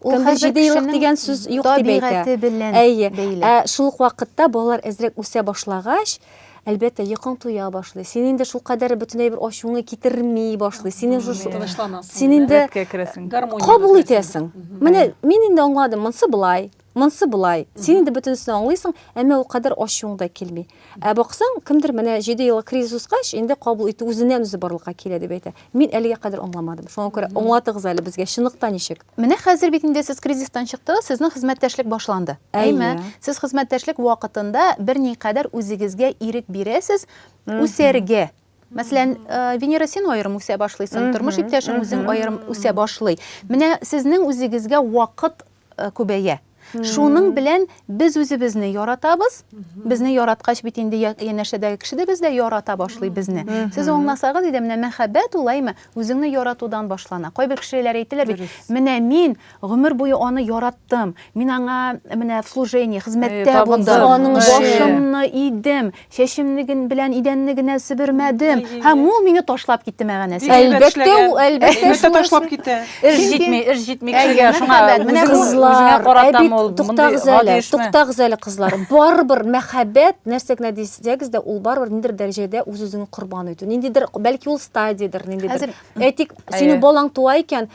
Ул хәзер җидееллык дигән сүз юк дип әйтә. белән Әйе. Ә шул ук вакытта балалар әзрәк үсә башлагач, әлбәттә, йокың туя башлый. Син инде шул кадәр бөтенләй бер ачуыңны китерми башлый. Син уже тынычланасың. Син инде кабул итәсең. Менә мин инде аңладым, монсы былай, Монсы болай, син инде бөтенесен аңлыйсың, әмма ул кадәр ачуың да килми. Ә баксаң, кемдер менә җиде еллык кризис узгач, инде кабул итү үзеннән-үзе барлыкка килә дип әйтә. Мин әлегә кадәр аңламадым. Шуңа күрә аңлатыгыз әле безгә, чынлыкта ничек? Менә хәзер бит инде сез кризистан чыктыгыз, сезнең хезмәттәшлек башланды. Әйме? Әйе. Сез хезмәттәшлек вакытында берникадәр үзегезгә ирек бирәсез үсәргә. Мәсәлән, э, Венера син аерым үсә башлыйсың, тормыш иптәшең үзең аерым үсә башлый. Менә сезнең үзегезгә вакыт э, күбәя. Шуның белән без үзебезне яратабыз. Безне яраткач бит инде янәшәдәге кеше дә бездә ярата башлый безне. Сез аңласагыз иде, менә мәхәббәт улаймы үзеңне яратудан башлана. Кайбер кешеләр әйтәләр бит, менә мин Гомер буе аны яраттым. Мин аңа менә в служении, хезмәттә булдым. Башымны идем, чәчемне белән идәнне генә себермәдем. Һәм ул мине ташлап китте мәгәнәсе. Әлбәттә, ул әлбәттә шуны ташлап китә. Эш җитми, эш җитми кешегә. Шуңа менә кызлар, әби, туктагыз әле, туктагыз әле, кызлар. Барыбер мәхәббәт, нәрсә генә дисәгез дә, ул барыбер ниндидер дәрәҗәдә үз-үзеңне корбан итү. Ниндидер, бәлки ул стадиядер, ниндидер. Әйтик, синең балаң туа икән,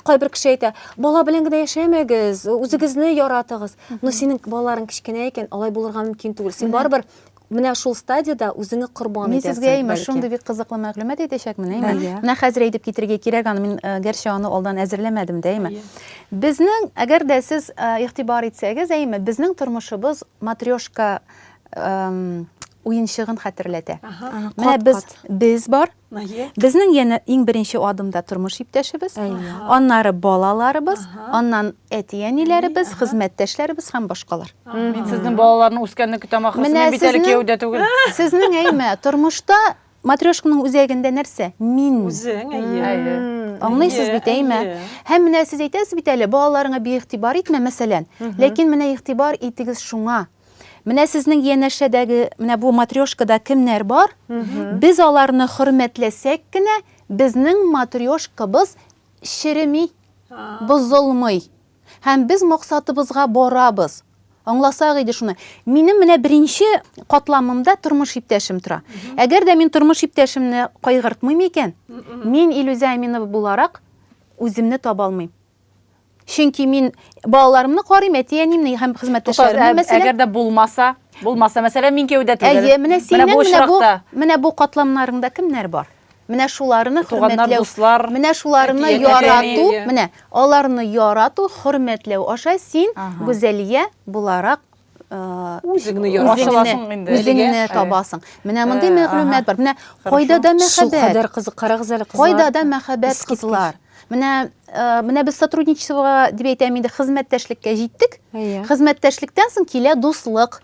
Кайбер кеше әйтә, бала белән генә яшәмәгез, үзегезне яратыгыз. Но синең балаларың кечкенә икән, алай булырга мөмкин түгел. Син барыбер менә шул стадияда үзеңне корбан Мин сезгә итәсең. имеш, шундый бик кызыклы мәгълүмат әйтәчәкмен, әйме? Әйе. Менә хәзер әйтеп китергә кирәк аны, мин э, гәрчә аны алдан әзерләмәдем дә, әйме? Безнең, әгәр дә сез э, игътибар итсәгез, әйме, безнең тормышыбыз матрешка эм, уенчыгын хәтерләтә. Ага. Менә кат, без кат. без бар, Безнең янә иң беренче адымда тормыш иптәшебез, аннары балаларыбыз, аннан әти-әниләребез, хезмәттәшләребез һәм башкалар. Мин сезнең балаларның үскәнне көтәм ахрысы, мин бит әле кияүдә түгел. Сезнең әйме, тормышта матрешканың үзәгендә нәрсә? Мин. Үзең, әйе. Аңлыйсыз бит, әйме? Һәм менә сез әйтәсез бит әле, балаларыңа биигътибар итмә, мәсәлән. Ләкин менә игътибар итегез шуңа, Менә сезнең янәшәдәге, менә бу матрешкада кемнәр бар? Без аларны хөрмәтләсәк кенә, безнең матрешкабыз череми, бозылмый. Һәм без максатыбызга барабыз. Аңласак иде шуны. Минем менә беренче катламымда тормыш иптәшем тора. Әгәр дә мин тормыш иптәшемне кайгыртмыйм икән, мин Илүзә Әминова буларак үземне таба алмыйм. Чөнки мин балаларымны карыйм, әти-әниемне һәм хезмәттәшләремне, мәсәлән. Әгәр дә булмаса, булмаса, мәсәлән, мин кияүдә түгел. Әйе, менә синең менә бу очракта. Менә бу катламнарыңда кемнәр бар? Менә шуларны хөрмәтләү, менә шуларны ярату, менә аларны ярату, хөрмәтләү аша син Гүзәлия буларак үзеңне ярашасың инде үзеңне табасың менә мондый мәгълүмат бар менә кайда да мәхәббәт кадәр кызык карагыз әле кызлар кайда да мәхәббәт кызлар менә менә без сотрудничествога дип әйтәм инде хезмәттәшлеккә җиттек хезмәттәшлектән соң килә дуслык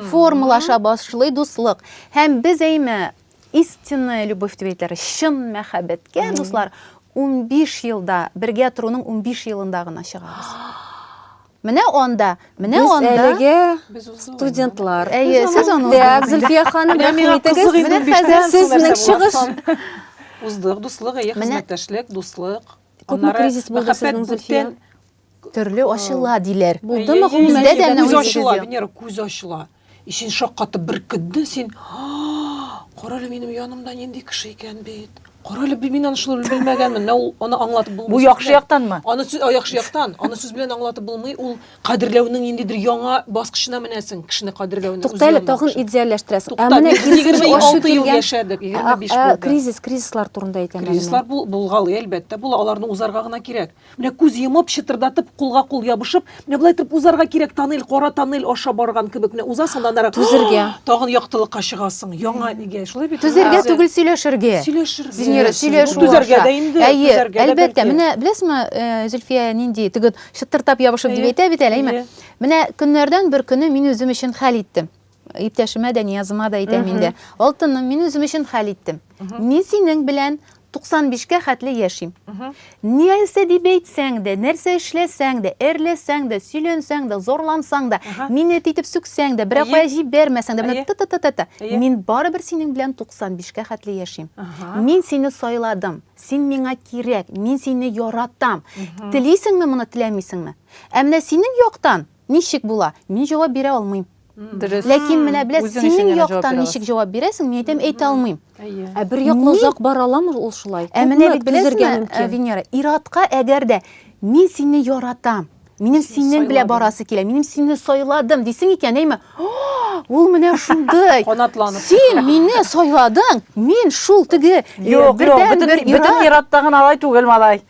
формалаша башлый дуслык һәм без әйме истинная любовь дип әйтәләр чын мәхәббәткә дуслар 15 елда бергә торуның 15 елында гына чыгабыз Менә анда, менә Без анда. әлеге студентлар. Әйе, сез аны Дәп, Зөлфия ханым, Менә миңа рәхмәт кызык итегез. инде Менә хәзер биштән сезнең соң нәрсә чыгыш. буласын. Уздык, дуслык, әйе, Менә- хезмәттәшлек, дуслык. Күпме Аннары кризис булды мәхәббәт сезнең, Зөлфия? бүтән- Төрле ачыла, диләр. Булдымы Әйе, гомумән? Бездә дә әйе, менә күз үзегез ачыла, юк. Венера, күз ачыла. И син шаккатып беркетдең син. Карале минем янымда нинди кеше икән бит. Карале би мин аны шулай белмәгәнмен. Менә ул аны аңлатып булмый. Бу яхшы яктанмы? Аны сүз яхшы яктан. Аны сүз белән аңлатып булмый. Ул кадерләүнең ниндидер яңа баскычына менәсең, кешене кадерләүнең. Туктале, тагын идеальләштерәсең. Ә менә 26 ел яшәдек, 25 булды. Кризис, кризислар турында әйтәм. Кризислар булгалый, әлбәттә, була. Аларны узарга гына кирәк. Менә күз йомып, чытырдатып, кулга-кул ябышып, менә болай итеп узарга кирәк, тоннель, кара тоннель аша барган кебек, менә узасың да аннары Түзергә. тагын яктылыкка чыгасың, яңа нигә, шулай бит? Түзергә Әзер. түгел, сөйләшергә. Сөйләшергә. Синьора, Сөйләшергә. сөйләшү Бу түзәргә аша. дә инде, Әйе, түзәргә дә әлбәттә. бәлки. Менә беләсеңме, э, Зөлфия нинди теге чыттыртап ябышып дип Әйе, әйтә бит әле, әйме? әйе. Менә көннәрдән бер көнне мин үзем өчен хәл иттем. Иптәшемә дә, Ниязыма да әйтәм инде. Алтыным, мин үзем өчен хәл иттем. Мин синең белән 95-кә хәтле яшим. Нәрсә дип әйтсәң дә, нәрсә эшләсәң дә, әрләсәң дә, сөйләнсәң дә, зарлансаң да, мине әти итеп сүксәң дә, берәр кая җибәрмәсәң дә, та-та-та-та-та, мин барыбер синең белән 95-кә хәтле яшим. Мин сине сайладым, син миңа кирәк, мин сине яратам. Телисеңме моны, теләмисеңме? Ә менә синең яктан, Ничек була? Мин җавап бирә алмыйм. Дөрес. Ләкин менә белә, Үзең өчен синең генә җавап яктан бирә ничек аласың. җавап бирәсең, мин әйтәм, әйтә алмыйм. Әйе. Ә бер яклы Мин- озак бара аламы ул шулай? Ә менә Күпме бит түзергә беләсеңме, э, мөмкин? Венера, ир-атка әгәр дә мин сине яратам, минем Сине синең белән сайладым. барасы килә, минем сине сайладым дисең икән, әйме, О, ул менә шундый. Канатланып. Син мине сайладың, мин шул теге э, Юк, юк, бердәнбер бөтен бөтен ир-ат. ир-атта гына алай түгел, малай.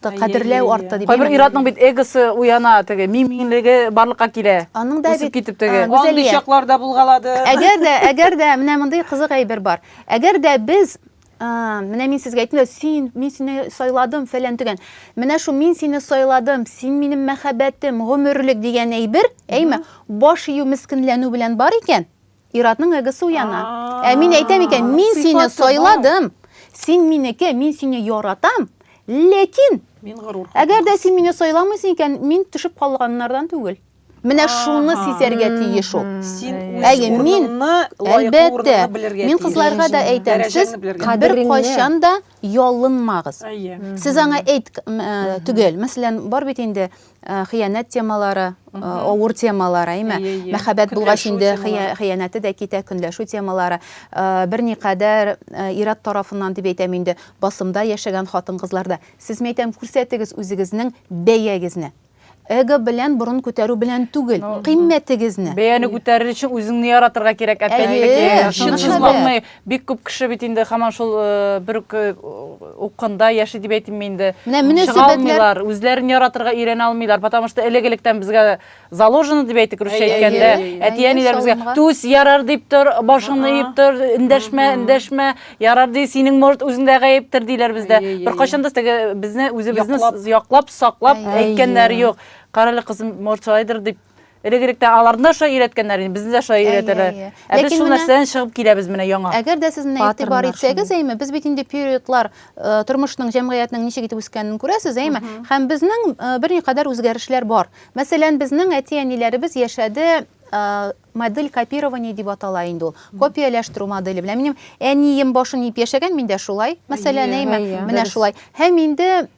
Кадерләү артты дип. Кайбер ир-атның бит эгосы уяна, теге мин-минлеге барлыкка килә. Аның да бит китеп теге. Андый чаклар да булгалады. Әгәр дә, әгәр дә менә мондый кызык әйбер бар. Әгәр дә без менә мин сезгә әйттем дә, син, мин сине сайладым, фәлән дигән. Менә шул мин сине сайладым, син минем мәхәббәтем, гомерлек дигән әйбер, әйме, баш ию мескенләнү белән бар икән, Иратның эгосы уяна. Ә мин әйтәм икән, мин сине сайладым. Син минеке, мин сине яратам. Ләкин мин горур. Әгәр дә син мине сайламыйсың икән, мин төшеп калганнардан түгел. Менә шуны сизәргә тиеш ул. Син Әйе, мин әлбәттә, мин кызларга да әйтәм, сез бер кайчан да ялынмагыз. Сез аңа әйт э, түгел. Мәсәлән, бар бит инде Э, хыянәт темалары э, авыр темалар әйме мәхәббәт булгач инде хыянәте дә китә көнләшү темалары э, берникадәр ират тарафыннан дип әйтәм инде басымда яшәгән хатын кызларда сез мен әйтәм күрсәтегез үзегезнең бәягезне эго белән борын күтәрү белән түгел кыйммәтегезне бәяне күтәрер өчен үзеңне яратырга кирәк әтәчлек чынсызлыкны Бик күп кеше бит инде һаман шул бер үк укында яши дип әйтимме инде. Чыга алмыйлар, үзләрен яратырга өйрәнә алмыйлар, потому что элек-электән безгә заложено дип әйтик русча әйткәндә, әти-әниләр безгә түс, ярар дип тор, башыңны иеп тор, эндәшмә, эндәшмә, ярар ди, синең может үзеңдә гаептер диләр бездә. Беркайчан да теге безне үзебезне яклап, саклап әйткәннәре юк. Карале кызым, может шулайдыр дип Элегректә аларны да шулай өйрәткәннәр инде, безне дә шулай өйрәтәләр. Ә без шул нәрсәдән чыгып киләбез менә яңа. Әгәр дә сез менә игътибар итсәгез, әйме, без бит инде периодлар э, тормышның, җәмгыятьнең ничек итеп үскәнен күрәсез, әйме? Һәм безнең э, берникадәр үзгәрешләр бар. Мәсәлән, безнең әти-әниләребез яшәде э, модель копирования дип атала инде ул. Копияләштерү моделе белән минем әнием башын иеп яшәгән, мин дә шулай. Мәсәлән, әйме, менә шулай. Һәм инде,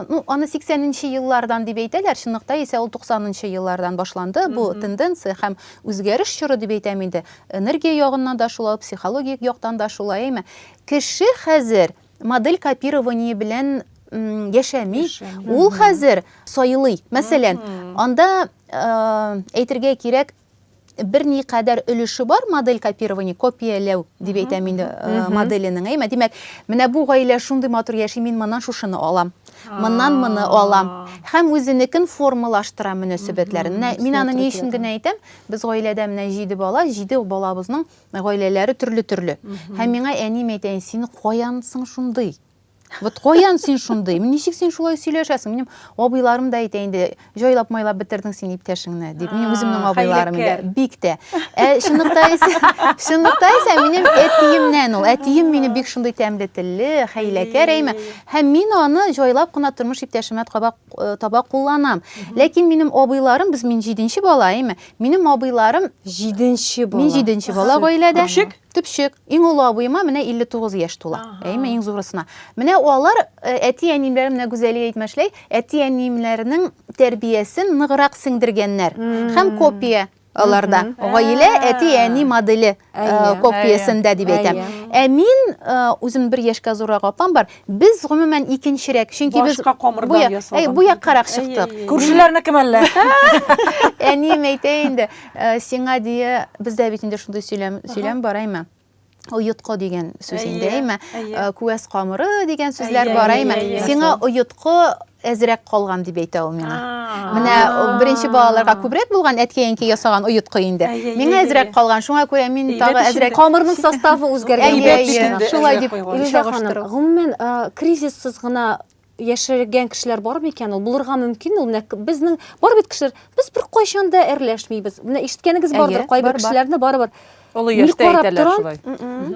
ну, аны 80 нче еллардан дип әйтәләр, чынлыкта исә ул 90 нчы еллардан башланды бу тенденция һәм үзгәреш чоры дип әйтәм инде. Энергия ягыннан да шулай, психологик яктан да шулай, әйме. Кеше хәзер модель копирование белән яшәми, ул хәзер сайлый. Мәсәлән, анда әйтергә кирәк, берникадәр өлеше бар модель копирования, копияләү дип әйтәм инде э, моделенең, әйме? Димәк, менә бу гаилә шундый матур яши, мин моннан шушыны алам, моннан моны алам. Һәм үзенекен формалаштыра мөнәсәбәтләрен. Менә мин аны ни өчен генә әйтәм, без гаиләдә менә җиде бала, җиде балабызның гаиләләре төрле-төрле. Һәм миңа әнием әйтә, син каян соң шундый? Вот каян син шундый? Ничек син шулай сөйләшәсең? Минем абыйларым да әйтә инде, җайлап майлап бетердең син иптәшеңне дип. Минем үземнең абыйларым инде бик тә. Ә чынлыкта исә, чынлыкта исә минем әтиемнән ул. Әтием мине бик шундый тәмле телле, хәйләкәр әйме. Һәм мин аны җайлап кына тормыш иптәшемә таба, э, таба кулланам. Ләкин минем абыйларым, без мин җиденче бала, әйме. Минем абыйларым җиденче бала. Мин җиденче бала гаиләдә. Күпчек? Төпчек, иң олы абыема менә 59 яшь тула. Әйме, иң зурысына. Менә алар э, әти-әниемнәр менә Гүзәлия әйтмәшләй, әти-әниемнәрнең тәрбиясен ныграк сеңдергәннәр. Һәм копия аларда. Гаилә әти-әни моделе э, копиясендә дип әйтәм. Ә мин э, үзем бер яшькә зуррак апам бар. Без гомумән икенчерәк, чөнки без Башка камырдан ясалган. Әй, бу яккарак чыктык. Күршеләрнеке мәллә? Әнием әйтә инде, э, сиңа дия, бездә бит инде шундый сөйләм, сөйләм бар, әйме? Оеткы дигән сүз инде, әйме? Э, Күәс камыры дигән сүзләр бар, әйме? Сиңа оеткы әзрәк калган дип әйтә ул миңа. Менә беренче балаларга күбрәк булган әткәенки ясаган оеткы инде. Миңа әзрәк калган, шуңа күрә мин тагы әзрәк. Камырның составы үзгәргән. Әйе, шулай дип чагыштыру. Гомумән, кризиссыз гына яшәгән кешеләр бар микән ул булырга мөмкин ул менә безнең бар бит кешеләр без бер кайчан да әрләшмибез менә ишеткәнегез бардыр кайбер кешеләрне барыбер Олы яшьтә әйтәләр шулай.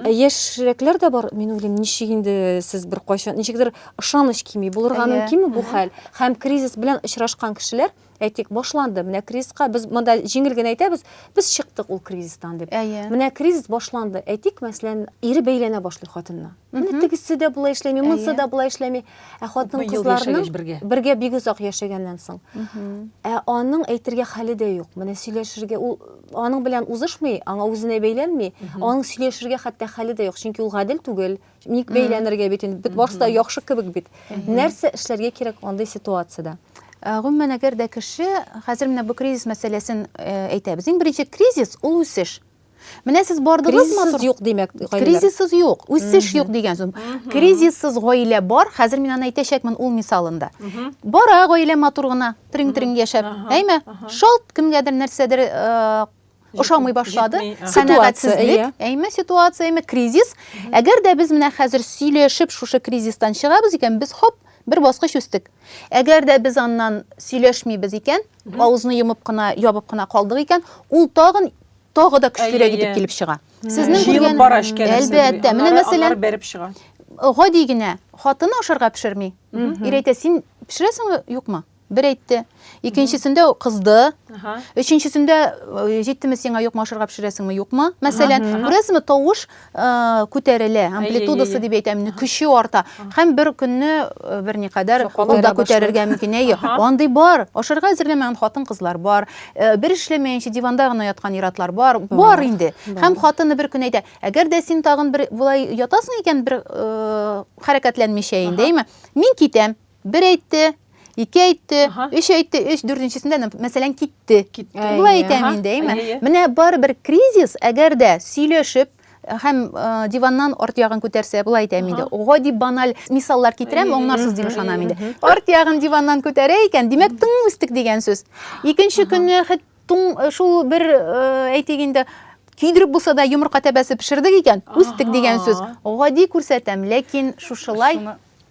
Ә яшьрәкләр дә бар, мин уйлыйм, ничек инде сез бер кайчан, ничектер ышаныч кими, булырга мөмкинме бу хәл? Һәм кризис белән очрашкан кешеләр, әйтик, башланды, менә кризиска без монда җиңел генә әйтәбез, без чыктык ул кризистан дип. Менә кризис башланды, әйтик, мәсәлән, ире бәйләнә башлый хатынына. Менә тегесе дә болай эшләми, монысы да болай эшләми. Ә хатын-кызларның бергә бик озак яшәгәннән соң, ә аның әйтергә хәле дә юк. Менә сөйләшергә ул аның белән узышмый, аңа үзенә бәйләнми, аның сөйләшергә хәтта хәле дә юк, чөнки ул гадел түгел, ник бәйләнергә бит инде, бит барысы да яхшы кебек бит. Нәрсә эшләргә кирәк андый ситуациядә? Э, гомумән, әгәр дә кеше, хәзер менә бу кризис мәсьәләсен э, әйтәбез. Иң беренче кризис, ул үсеш. Менә сез бардыгыз Кризиссыз юк димәк, гаиләләр. Кризиссыз юк, үсеш юк дигән сүз. Кризиссыз гаилә бар, хәзер мин аны әйтәчәкмен ул мисалында. Бара гаилә матур гына, Тринг-тринг яшәп, әйме? Шалт кемгәдер нәрсәдер э, ошамый башлады. Ситуация, әйме ситуация, әйме кризис. Әгәр дә без менә хәзер сөйләшеп шушы кризистан чыгабыз икән, без хоп, бер баскыч үстек. Әгәр дә без аннан сөйләшмибез икән, авызны йомып кына, ябып кына калдык икән, ул тагын тагы да көчлерәк итеп килеп чыга. Сезнең җыелып бара эшкә. Әлбәттә, менә мәсәлән, бәреп чыга. Гади генә хатыны ашарга пешерми. Ир әйтә, син пешерәсеңме, юкмы? Бер әйтте. Икенчесендә кызды. Өченчесендә җиттеме сиңа юкмы ашарга пешерәсеңме, юкмы? Мәсәлән, күрәсезме, тавыш күтәрелә амплитудасы дип әйтәм инде көче арта һәм бер көнне берникадәр ул да күтәрергә мөмкин әйе андый бар ашарга әзерләмәгән хатын кызлар бар бер эшләмәенчә диванда гына яткан иратлар бар бар инде һәм хатыны бер көн әйтә әгәр дә син тагын бер болай ятасың икән бер хәрәкәтләнмичә инде әйме мин китәм Бер әйтте, ике әйтте, өч әйтте, өч дүртенчесендә, мәсәлән, китте. Китте. Болай әйтәм инде, әйме? Менә барыбер кризис, әгәр дә сөйләшеп, һәм диваннан арт ягын күтәрсә, болай әйтәм инде, гади баналь мисаллар китерәм, аңларсыз дип ышанам инде. Арт ягын диваннан күтәрә икән, димәк, тың үстек дигән сүз. Икенче көнне шул бер әйтик инде, көйдереп булса да йомырка тәбәсе пешердек икән, үстек дигән сүз. Гади күрсәтәм, ләкин шушылай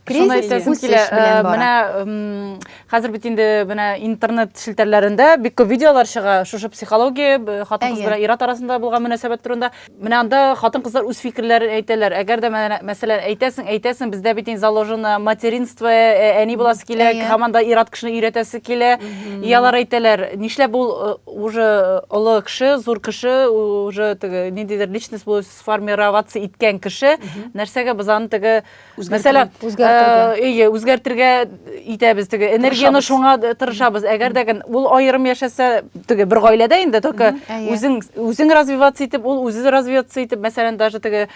Шуны әйтәсем килә, менә хәзер бит инде менә интернет челтәрләрендә бик күп видеолар чыга, шушы психология, хатын-кыз белән ир-ат арасында булган мөнәсәбәт турында. Менә анда хатын-кызлар үз фикерләрен әйтәләр. Әгәр дә менә, мәсәлән, әйтәсең, әйтәсең, бездә бит инде заложено материнство, әни буласы килә, һаман да ир-ат кешене өйрәтәсе килә. И алар әйтәләр, нишләп ул уже олы кеше, зур кеше, уже теге ниндидер личность булып сформироваться иткән кеше, нәрсәгә без аны теге Мәсәлә, әйе, үзгәртергә итәбез теге энергияне шуңа тырышабыз. Әгәр дә ул аерым яшәсә, теге бер гаиләдә инде только үзең үзең развиваться итеп, ул үзе развиваться итеп, мәсәлән, даже теге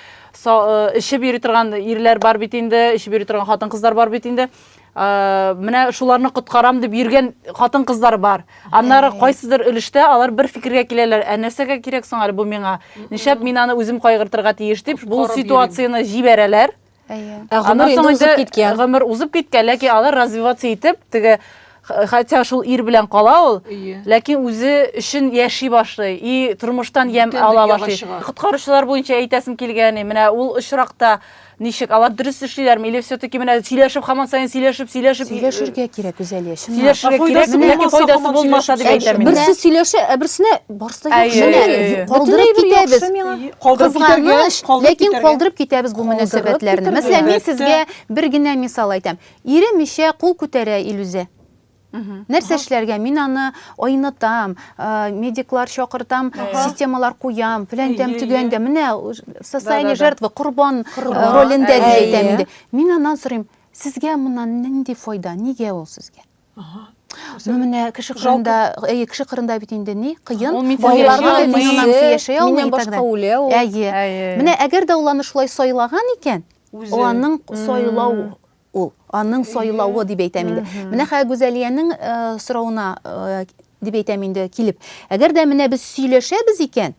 эчеп йөри торган ирләр бар бит инде, эчеп йөри торган хатын-кызлар бар бит инде. менә шуларны коткарам дип йөргән хатын кызлар бар аннары кайсыдыр өлештә алар бер фикергә киләләр ә нәрсәгә кирәк соң әле бу миңа нишләп мин аны үзем кайгыртырга тиеш дип бу ситуацияне җибәрәләр ә гомер инде узып киткән гомер узып киткән ләкин алар развиваться итеп теге хотя шул ир белән кала ул ләкин үзе өчен яши башлый и тормыштан ямь ала башлый коткаручылар буенча әйтәсем килгәне менә ул очракта Ничек? Алар дөрес эшлиләрме или все-таки менә сөйләшеп хаман саен сөйләшеп, сөйләшеп Сөйләшергә кирәк, Гүзәлия, чынлап. Сөйләшергә кирәк, Файдасы менә булмаса, файдасы хаман булмаса дип сөйләшеп әйтәм мин. Берсе сөйләшә, ә берсенә барсы да Әйе, яхшы. әйе, Менә әйе. калдырып Бөтенләй бер китәбез. яхшы миңа. Әйе, калдырып китәргә, Кызганыч, калдырып ләкин китәргә. калдырып китәбез бу Калдырып мөнәсәбәтләрне. китәргә. Мәсәлән, мин Әлбәттә. сезгә бер генә мисал әйтәм. Иремичә кул күтәрә Илүзә. Нәрсә эшләргә? Мин аны айнытам, медиклар чакыртам, системалар куям, фәлән тәм төгән дә. Менә социальный жертва, корбан ролендә дип әйтәм инде. Мин аннан сорыйм, сезгә моннан нинди файда, нигә ул сезгә? Ну менә кеше кырында, әйе, кеше кырында бит инде ни, кыен. Байларга да диннан яшәй алмый. Миннән башка үлә ул. Әйе. Менә әгәр дә ул аны шулай сайлаган икән, ул аның сайлау Ул. Аның сайлавы дип әйтәм инде. Менә хәзер Гүзәлиянең соравына дип әйтәм инде килеп. Әгәр дә менә без сөйләшәбез икән,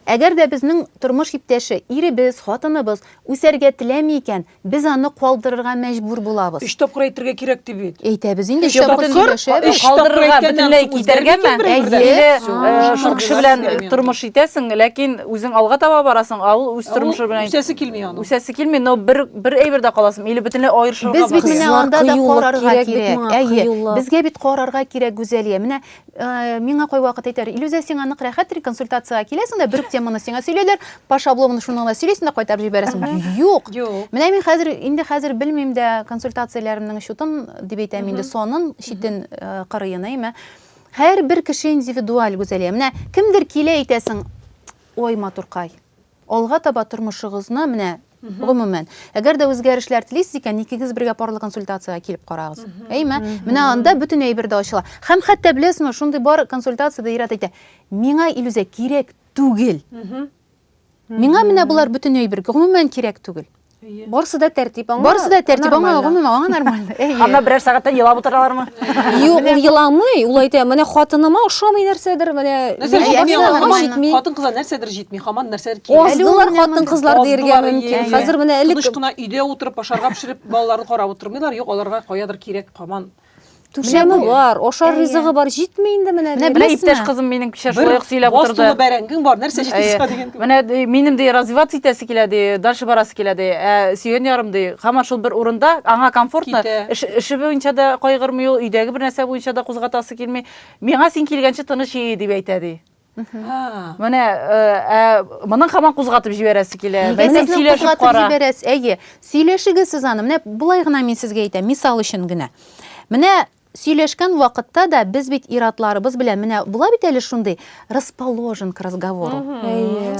әгәр дә безнең тормыш иптәше, иребез, хатыныбыз үсәргә теләми икән, без аны калдырырга мәҗбүр булабыз. Өч тапкыр әйтергә кирәк дип бит. Әйтәбез инде, өч тапкыр сөйләшәбез. Калдырырга, бөтенләй китәргәме? Әйе. Шул кеше белән тормыш итәсең, ләкин үзең алга таба барасың, ә ул үз тормышы белән. Үсәсе килми аның. Үсәсе килми, но бер бер әйбердә каласың или бөтенләй аерышырга Без бит менә анда да карарга кирәк. Әйе, безгә бит карарга кирәк Гүзәлия. Менә э, миңа кой вакыт әйтәр, Илүзә сиңа нык рәхәт консультациягә киләсең дә, бер үк теманы сиңа сөйләйләр, Паша Обломовны шуны гына сөйлисең дә кайтарып җибәрәсең. Юк. Менә мин хәзер инде хәзер белмим дә консультацияләремнең чутын дип әйтәм инде, сонын, читен э, кырыен, әйме. Һәр бер кеше индивидуаль Гүзәлия. Менә кемдер килә әйтәсең, ой, матуркай, Алга таба тормышыгызны, менә, гомумән, әгәр дә үзгәрешләр телисез икән, икегез бергә парлы консультациягә килеп карагыз. Әйме? Менә анда бөтен әйбер дә ачыла. Һәм хәтта беләсезме, шундый бар консультациядә ир-ат әйтә, миңа Илүзә кирәк түгел. Миңа менә болар бөтен әйбер, гомумән кирәк түгел. Барсы да тәртип аңа. Барсы да тәртип аңа, гомумән аңа нормально. Анда берәр сәгатьтән елап утыралармы? Юк, ул еламый, ул әйтә, менә хатыныма ошамый нәрсәдер, менә хатын кызлар нәрсәдер җитми, хаман нәрсәдер кирәк. Аздылар хатын кызлар диергә мөмкин. Хәзер менә элек тыныч кына өйдә утырып, ашарга пешереп, балаларын карап утырмыйлар, юк, аларга каядыр кирәк хаман. Менә бу бар, ашар ризыгы бар, җитми инде менә. Менә беләсезме? Иптәш кызым минем кичә шулай ук сөйләп утырды. Бостулы бәрәңгең бар, нәрсә җитмисә дигән. Менә минем ди развиваться итәсе килә ди, дальше барасы килә ди. Ә сөйгән ярым ди, һаман шул бер урында, аңа комфортно. Эше буенча да кайгырмый ул, өйдәге бер нәрсә буенча да кузгатасы килми. Миңа син килгәнче тыныч ие дип әйтә ди. Менә э, ә моның хаман кузгатып җибәрәсе килә. Белмәсәм сөйләшеп кара. Җибәрәс, әйе. Сөйләшегез сез аны. Менә булай гына мин сезгә әйтәм, мисал өчен генә. Менә сөйләшкән вакытта да без бит иратларыбыз белән менә була бит әле шундый расположен к разговору.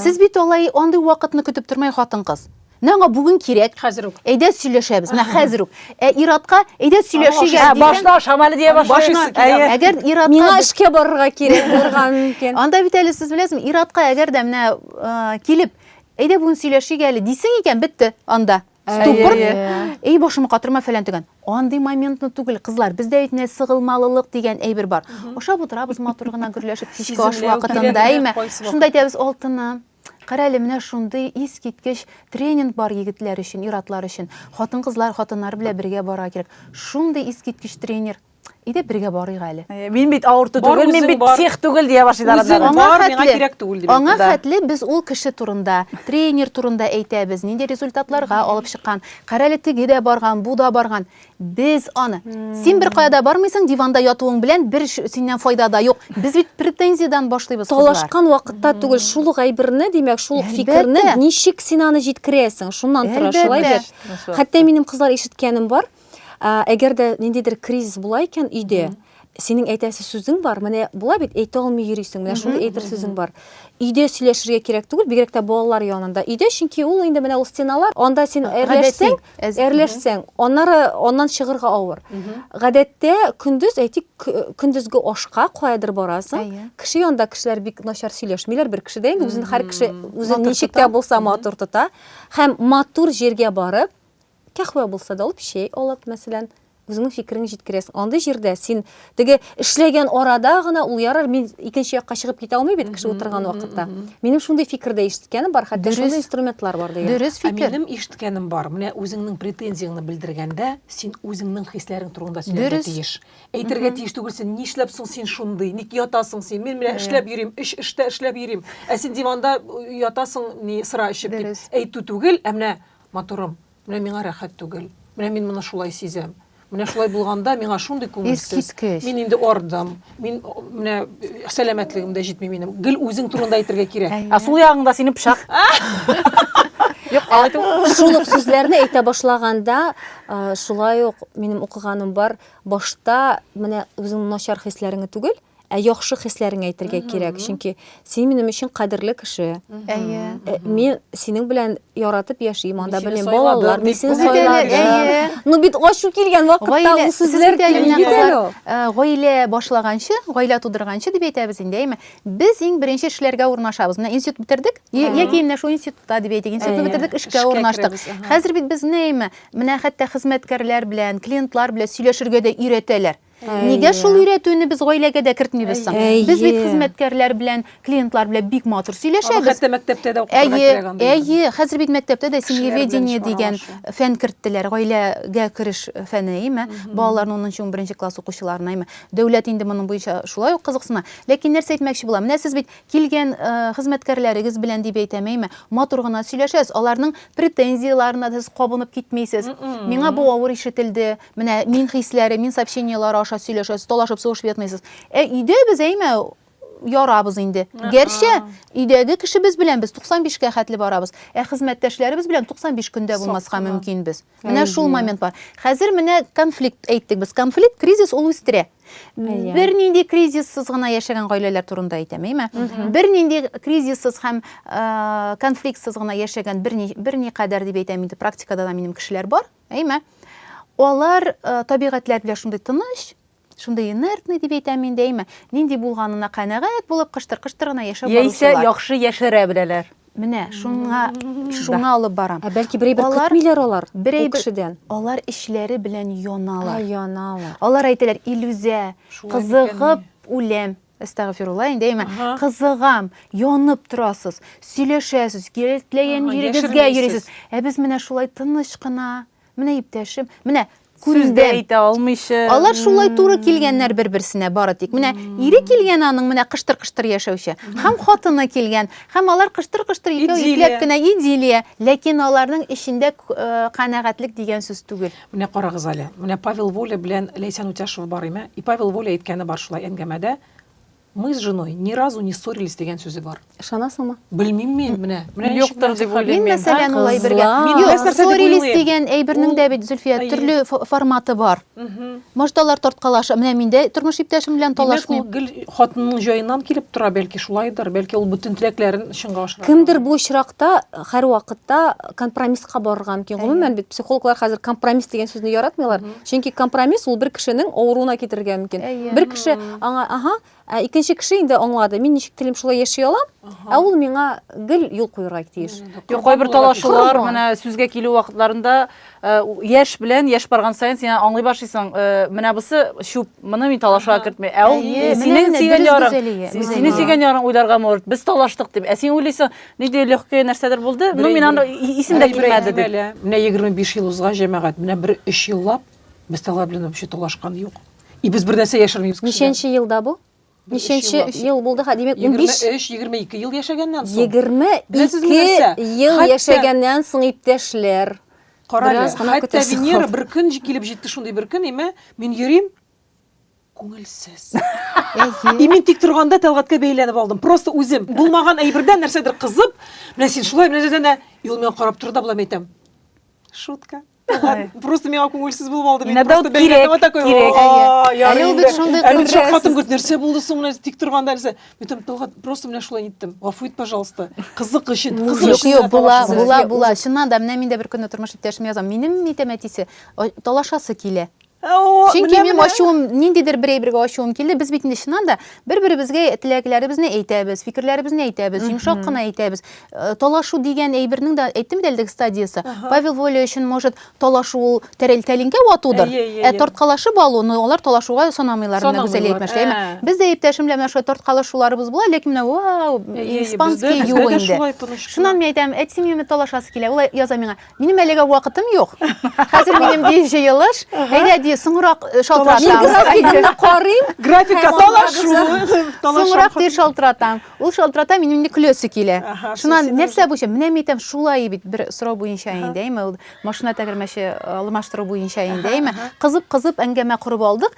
Сез бит алай андый вакытны көтеп тормай хатын-кыз. Менә аңа бүген кирәк. Хәзер үк. Әйдә сөйләшәбез. Менә хәзер үк. Ә иратка әйдә сөйләшик әле. Башына ашам әле дия башлый. Әгәр иратка Миңа эшкә барырга кирәк булырга мөмкин. Анда бит әле сез беләсезме, иратка әгәр дә менә килеп, әйдә бүген сөйләшик әле дисең икән, бетте анда. Ступор. Эй, башымны катырма фәлән түгән. Андый моментны түгел, кызлар. Бездә бит менә сыгылмалылык дигән әйбер бар. Ашап утырабыз матур гына гөрләшеп, кичке аш вакытында, әйме? Шунда әйтәбез, алтыным, Карале, менә шундый искиткеч тренинг бар егетләр өчен, иратлар өчен. Хатын-кызлар, хатыннар белән бергә барырга кирәк. Шундый искиткеч тренер. Иде бергә барыйк әле. Э, мин бит авырту түгел, мин бит псих түгел дия башлый да. Үзең бар, миңа кирәк түгел дип. Аңа хәтле без ул кеше турында, тренер турында әйтәбез, нинди результатларга алып чыккан. Карале теге дә барган, бу да барган. Без аны. Син бер кая да бармыйсың, диванда ятуың белән бер синнән файда да юк. Без бит претензиядән башлыйбыз кызлар. Талашкан вакытта түгел, шул ук әйберне, димәк, шул ук фикерне ничек син аны җиткерәсең? Шуннан тора, шулай бит? Хәтта минем кызлар ишеткәнем бар, әгәр дә ниндидер кризис була икән өйдә, Синең әйтәсе сүзең бар, менә була бит, әйтә алмый йөрисең, менә шундый әйтер сүзең бар. Өйдә сөйләшергә кирәк түгел, бигрәк тә балалар янында. Өйдә, чөнки ул инде менә ул стеналар, анда син әрләшсәң, әрләшсәң, аннары аннан чыгырга авыр. Гадәттә, көндез, әйтик, көндезге ашка каядыр барасың, кеше янында кешеләр бик начар сөйләшмиләр, бер кеше дә инде үзен һәр кеше үзен ничек тә булса матур тота. Һәм матур җиргә барып, кәхвә булса да алып, чәй алып, мәсәлән, үзеңнең фикереңне җиткерәсең. Андый җирдә син теге эшләгән арада гына ул ярар, мин икенче якка чыгып китә алмый бит кеше утырган вакытта. Минем шундый фикердә ишеткәнем бар, хәтта шундый инструментлар бар дигән. Дөрес фикер. Минем ишеткәнем бар. Менә үзеңнең претензияңне белдергәндә, син үзеңнең хисләрең турында сөйләргә тиеш. Әйтергә тиеш түгел син, нишләп соң син шундый, ник ятасың син, мин менә эшләп йөрим, өч эштә эшләп йөрим, ә син диванда ятасың, ни сыра эчеп, дип әйтү түгел, ә менә Матурым, менә миңа рәхәт түгел. Менә мин моны шулай сизәм. Менә шулай булганда миңа шундый күңелсез. Мин инде ардым. Мин менә сәламәтлегем дә җитми минем. Гел үзең турында әйтергә кирәк. Ә сул ягыңда синең пычак. Юк, алай түгел. Шул ук сүзләрне әйтә башлаганда, шулай ук минем укыганым бар. Башта менә үзеңнең начар хисләреңне түгел, Ә яхшы хисләреңә әйтергә кирәк, чөнки син минем өчен кадерле кеше. Әйе. Э, Мин синең белән яратып яшим, анда сине белем сайладым, балалар, мин дип сине кызы килгән, сайладым. әйе. Ну бит ачу килгән вакытта Гаилә, ул сүзләр сезнең килми тәлинә бит әле кызлар, ул. э, гаилә башлаганчы, гаилә тудырганчы дип әйтәбез инде, әйме? Без иң беренче эшләргә урнашабыз. Менә институт бетердек, я- яки менә шул институтта дип әйтик, институтны Әйе, бетердек, эшкә эшкә урнаштык. керәбез, аһа. Хәзер бит безне әйме, менә хәтта хезмәткәрләр белән, клиентлар белән сөйләшергә дә өйрәтәләр. Нигә шул өйрәтүне без гаиләгә дә кертмибез соң? Без бит хезмәткәрләр белән, клиентлар белән бик матур сөйләшәбез. Хәтта мәктәптә дә укытырга кирәк анда. Әйе, хәзер бит мәктәптә дә семьеведение дигән фән керттеләр, гаиләгә кереш фәне, әйеме? Балаларның 10 11 класс укучыларына, әйеме? Дәүләт инде моның буенча шулай ук кызыксына. Ләкин нәрсә әйтмәкче булам? Менә сез бит килгән э, хезмәткәрләрегез белән дип әйтәм, әйеме? Матур гына сөйләшәсез, аларның претензияләренә сез кабынып китмисез. Миңа бу авыр ишетелде, Менә мин хисләре, мин сообщениеләре аша сөйләшәсез, талашып сугышып ятмыйсыз. Ә өйдә без әймә ярабыз инде. Гәрчә өйдәге кешебез белән без 95 кә хәтле барабыз. Ә хезмәттәшләребез белән 95 көндә булмаска мөмкин без. Менә шул момент бар. Хәзер менә конфликт әйттек без. Конфликт, кризис ул үстерә. Бер нинди кризиссыз гына яшәгән гаиләләр турында әйтәм, әйме? Бер нинди кризиссыз һәм конфликтсыз гына яшәгән бер ни бер никадәр дип әйтәм инде, практикада да минем кешеләр бар. Әйме? Алар э, табигатьләр белән шундый тыныч, шундый инертный дип әйтәм инде, әйме? Нинди булганына канәгать булып кыштыр-кыштыр гына яшәп Яисә яхшы яшерә беләләр. Менә шуңа шуңа алып барам. Ә бәлки берәй бер көтмиләр алар берәй кешедән. Алар ишләре белән яналар. Яналар. Алар әйтәләр, Илүзә, кызыгып үләм. Әстәгъфирулла, инде әйме, кызыгам, янып торасыз, сөйләшәсез, теләгән җирегезгә йөрисез. Ә без менә шулай тыныч кына, менә иптәшем, менә сүз дә әйтә алмыйча. Алар шулай туры килгәннәр бер-берсенә бары тик. Менә ире килгән аның менә кыштыр-кыштыр яшәүче. Һәм хатыны килгән. Һәм алар кыштыр-кыштыр икәү ипләп кенә идиллия, ләкин аларның эчендә канәгатьлек дигән сүз түгел. Менә карагыз әле, менә Павел Воля белән Ләйсән Үтяшева бар име? И Павел Воля әйткәне бар шулай әңгәмәдә, Мы с женой ни разу не ссорились дигән сүзе бар. Ышанасыңмы? Белмим мин, менә. Менә ничек Юктыр дип мәгълүм. Мин уйлыйм мин. мәсәлән Ай, улай бергә. кызлар. Мин Юк, нәрсә дип ссорились уйлыйм. дигән әйбернең Ул- дә бит, Зөлфия, Әйе. төрле фо- форматы бар. Мгм. Может, алар тарткалаша. Менә мин дә тормыш иптәшем белән Димәк, ул талашмыйм. гел хатынның җаеннан килеп тора, бәлки шулайдыр, бәлки ул бөтен теләкләрен чынга ашыра. Кемдер бу очракта һәрвакытта компромисска барырга мөмкин. Гомумән бит психологлар хәзер компромисс дигән сүзне яратмыйлар. Чөнки компромисс ул бер кешенең авыруына китерергә мөмкин. Бер кеше аңа, аһа, ә икенче кеше инде аңлады. Мин ничек телим шулай яши алам, ә ул миңа гел юл куярга тиеш. Юк, кайбер талашулар, менә сүзгә килү вакытларында э, яшь белән яшь барган саен син аңлый башлыйсың, э, менә бусы чүп, моны мин талашуга кертмим. Ә ул синең сөйгән ярың, синең сөйгән ярың уйларга морт. Без талаштык дип. Ә син уйлыйсың, Нинди легкое нәрсәдер булды. Ну, мин аны исем дә килмәде дип. Менә 25 ел узга җәмәгать, менә бер 3 еллап без тәләр белән вообще талашкан юк. И без бер нәрсә яшермибез. Ничәнче елда бу? Ничәнче ел булды? Ха, димәк, 15 23-22 ел яшәгәннән соң. 22 ел яшәгәннән соң иптәшләр. Карале, хәтта Венера бер көн килеп җитте шундый бер көн, имә, мин йөрим, Күңелсез. И мин тик торганда тәлгатькә бәйләнеп алдым. Просто үзем булмаган әйбердән нәрсәдер кызып, менә син шулай менә дә и ул миңа карап торды да болай әйтәм. Шутка. Просто миңа күңелсез булып алды. Мин просто бәйләнеп вот такой. Әле ул бит шундый күңелсез. Әле хатын күрде, нәрсә булды соң менә тик торганда нәрсә? Мин тәлгат просто менә шулай иттем. Гафу ит, пожалуйста. Кызык өчен, кызык өчен. Юк, була, була, була. Чыннан да менә мин дә бер көнне тормыш иптәшемә язам. Минем әйтәм әтисе, талашасы килә. Чөнки минем ачуым, ниндидер бер әйбергә ачуым килде. Без бит инде чыннан да бер-беребезгә теләкләребезне әйтәбез, фикерләребезне әйтәбез, йомшак кына әйтәбез. Э, талашу дигән әйбернең дә әйттем дә әлеге стадиясе. Павел Воля өчен, может, талашу ул тәрәлтәлингә ватудыр. Ә тарткалашып алу, ну, алар талашуга санамыйлар, менә Гүзәл әйтмешли. Без дә иптәшем белән менә шулай тарткалашуларыбыз була, ләкин менә вау, испанский юк инде. Шуннан мин әйтәм, әтием миңа талашасы килә. Ул яза миңа, Минем әлегә вакытым юк. Хәзер минем ди җыелыш. Әйдә ди, соңрак э, шалтыратам. Графигымны карыйм. Графикка талашу. Соңрак ди шалтыратам. Ул шалтырата, минем инде көләсе килә. Шуннан нәрсә буенча? Менә мин әйтәм, шулай бит бер сорау буенча инде, әйме, ул машина тәгәрмәче э, алмаштыру буенча инде, әйме. Кызып-кызып әңгәмә корып алдык.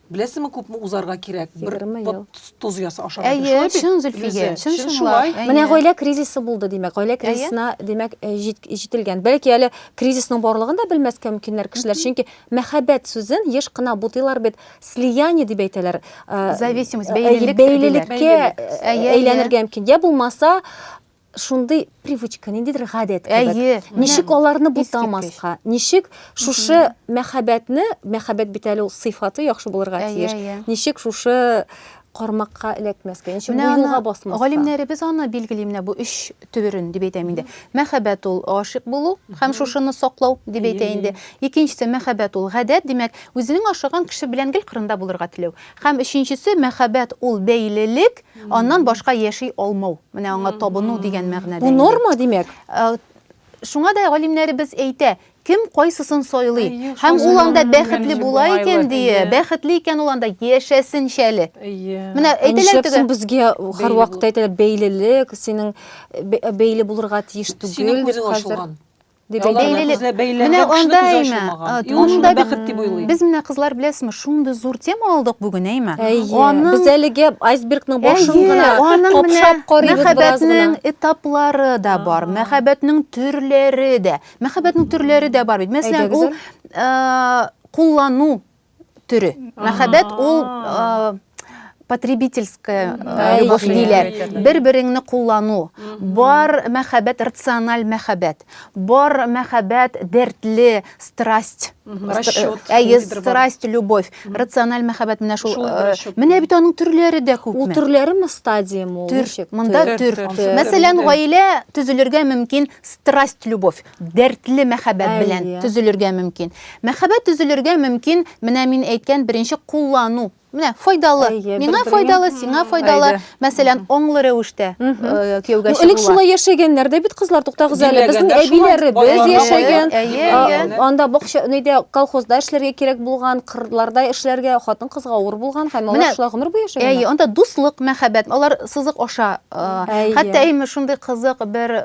Беләсеңме, күпме узарга кирәк? Бер тоз яса ашарга. Әйе, чын Зөлфия, чын шулай. Менә гаилә кризисы булды, димәк. Гаилә кризисына, димәк, э, җителгән. Бәлки әле кризисның барлыгын да белмәскә мөмкиннәр кешеләр, чөнки мәхәббәт сүзен еш кына бутыйлар бит, слияние дип әйтәләр. Э, Зависимость, э, бәйлелек. Бәйлелеккә әйләнергә мөмкин. Я булмаса, шундый привычка, ниндидер гадәт кебек. Әйе. Ничек аларны бутамаска? Ничек шушы мәхәббәтне, мәхәббәт бит әле ул сыйфаты яхшы булырга тиеш. Ничек шушы кармакка эләкмәскә, ничек бу юлга басмаска? Галимнәребез аны билгели менә бу өч төберен дип әйтәм инде. Мәхәббәт ул гашыйк булу һәм шушыны саклау дип әйтә инде. Икенчесе мәхәббәт ул гадәт, димәк, үзенең ашаган кеше белән гел кырында булырга теләү. Һәм өченчесе мәхәббәт ул бәйлелек, Аннан башка яши алмау. Менә аңа табыну дигән мәгънәдә. Бу норма, димәк. Э, шуңа да галимнәребез әйтә, кем кайсысын сайлый һәм ул анда бәхетле була икән дие бәхетле икән ул анда яшәсен шәле менә әйтәләр теге безгә һәрвакыт әйтәләр бәйлелек синең бәйле булырга тиеш түгел дип хәзер Менә анда әйме. Анда бәхет дип уйлый. Без менә кызлар беләсме, шундый зур тема алдык бүген әйме. Аны без әлегә айсбергның башын гына капшап карыйбыз бераз гына. Мәхәббәтнең этаплары да бар, мәхәббәтнең төрләре дә. Мәхәббәтнең төрләре дә бар бит. Мәсәлән, ул куллану төре. Мәхәббәт ул потребительская любовь диләр. Бер-береңне куллану. Бар мәхәббәт рациональ мәхәббәт. Бар мәхәббәт дәртле, страсть. Расчет. Әйе, страсть, любовь. Рациональ мәхәббәт менә шул. Менә бит аның төрләре дә күпме. Ул төрләреме стадиямы ул? Төр. Монда төр. Мәсәлән, гаилә төзелергә мөмкин страсть, любовь. дәртле мәхәббәт белән Әйе. төзелергә мөмкин. Мәхәббәт төзелергә мөмкин, менә мин әйткән беренче куллану. Менә файдалы. Әйе, Миңа бер-береңә- файдалы, сиңа файдалы. Әйе. Мәсәлән, аңлы рәвештә Мгм. э, кияүгә Ну, элек чыгуга. шулай яшәгәннәр дә бит кызлар, туктагыз әле. Безнең Диләгәндә шулай әбиләребез балалар яшәгән. балалар. Әйе, А, әйе. Анда бакча, нидә, колхозда эшләргә кирәк булган, кырларда эшләргә, хатын-кызга авыр булган һәм Менә- алар шулай гомер буе Әйе, яшәгәннәр. анда дуслык, мәхәббәт, алар сызык аша Хәтта әйме шундый кызык бер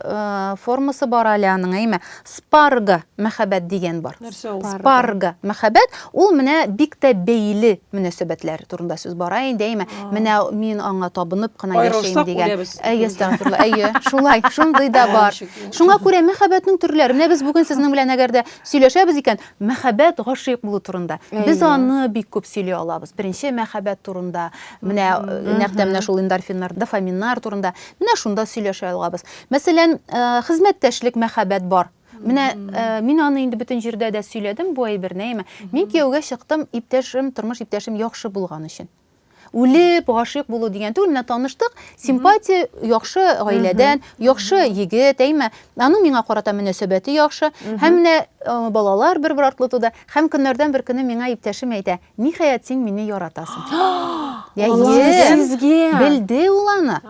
формасы бар әле аның, әйме спарга мәхәббәт дигән бар. Спарга мәхәббәт ул менә бик тә бәйле мөнәсәбәтләр турында сүз бара инде, әйме менә мин аңа табынып кына яшим дигән. Әйе, әстәгъфирулла, әйе, шулай, шундый да бар. Шуңа күрә мәхәббәтнең төрләре. Менә без бүген сезнең белән әгәр дә сөйләшәбез икән, мәхәббәт гашыйк булу турында без аны бик күп сөйли алабыз беренче мәхәббәт турында менә э, нәкъ тә менә шул эндорфиннар дофаминнар турында менә шунда сөйләшә алабыз мәсәлән э, хезмәттәшлек мәхәббәт бар менә э, мин аны инде бөтен җирдә дә сөйләдем бу әйберне әйме мин кияүгә чыктым иптәшем тормыш иптәшем яхшы булган өчен Үлеп гашыйк булу дигән түгел, менә таныштык, симпатия яхшы гаиләдән, яхшы егет, әйме, аның миңа карата мөнәсәбәте яхшы, һәм менә э, балалар бер-бер артлы туды, һәм көннәрдән бер көне миңа иптәшем әйтә, ниһаять син мине яратасың. Я Сезгә. Белде ул аны.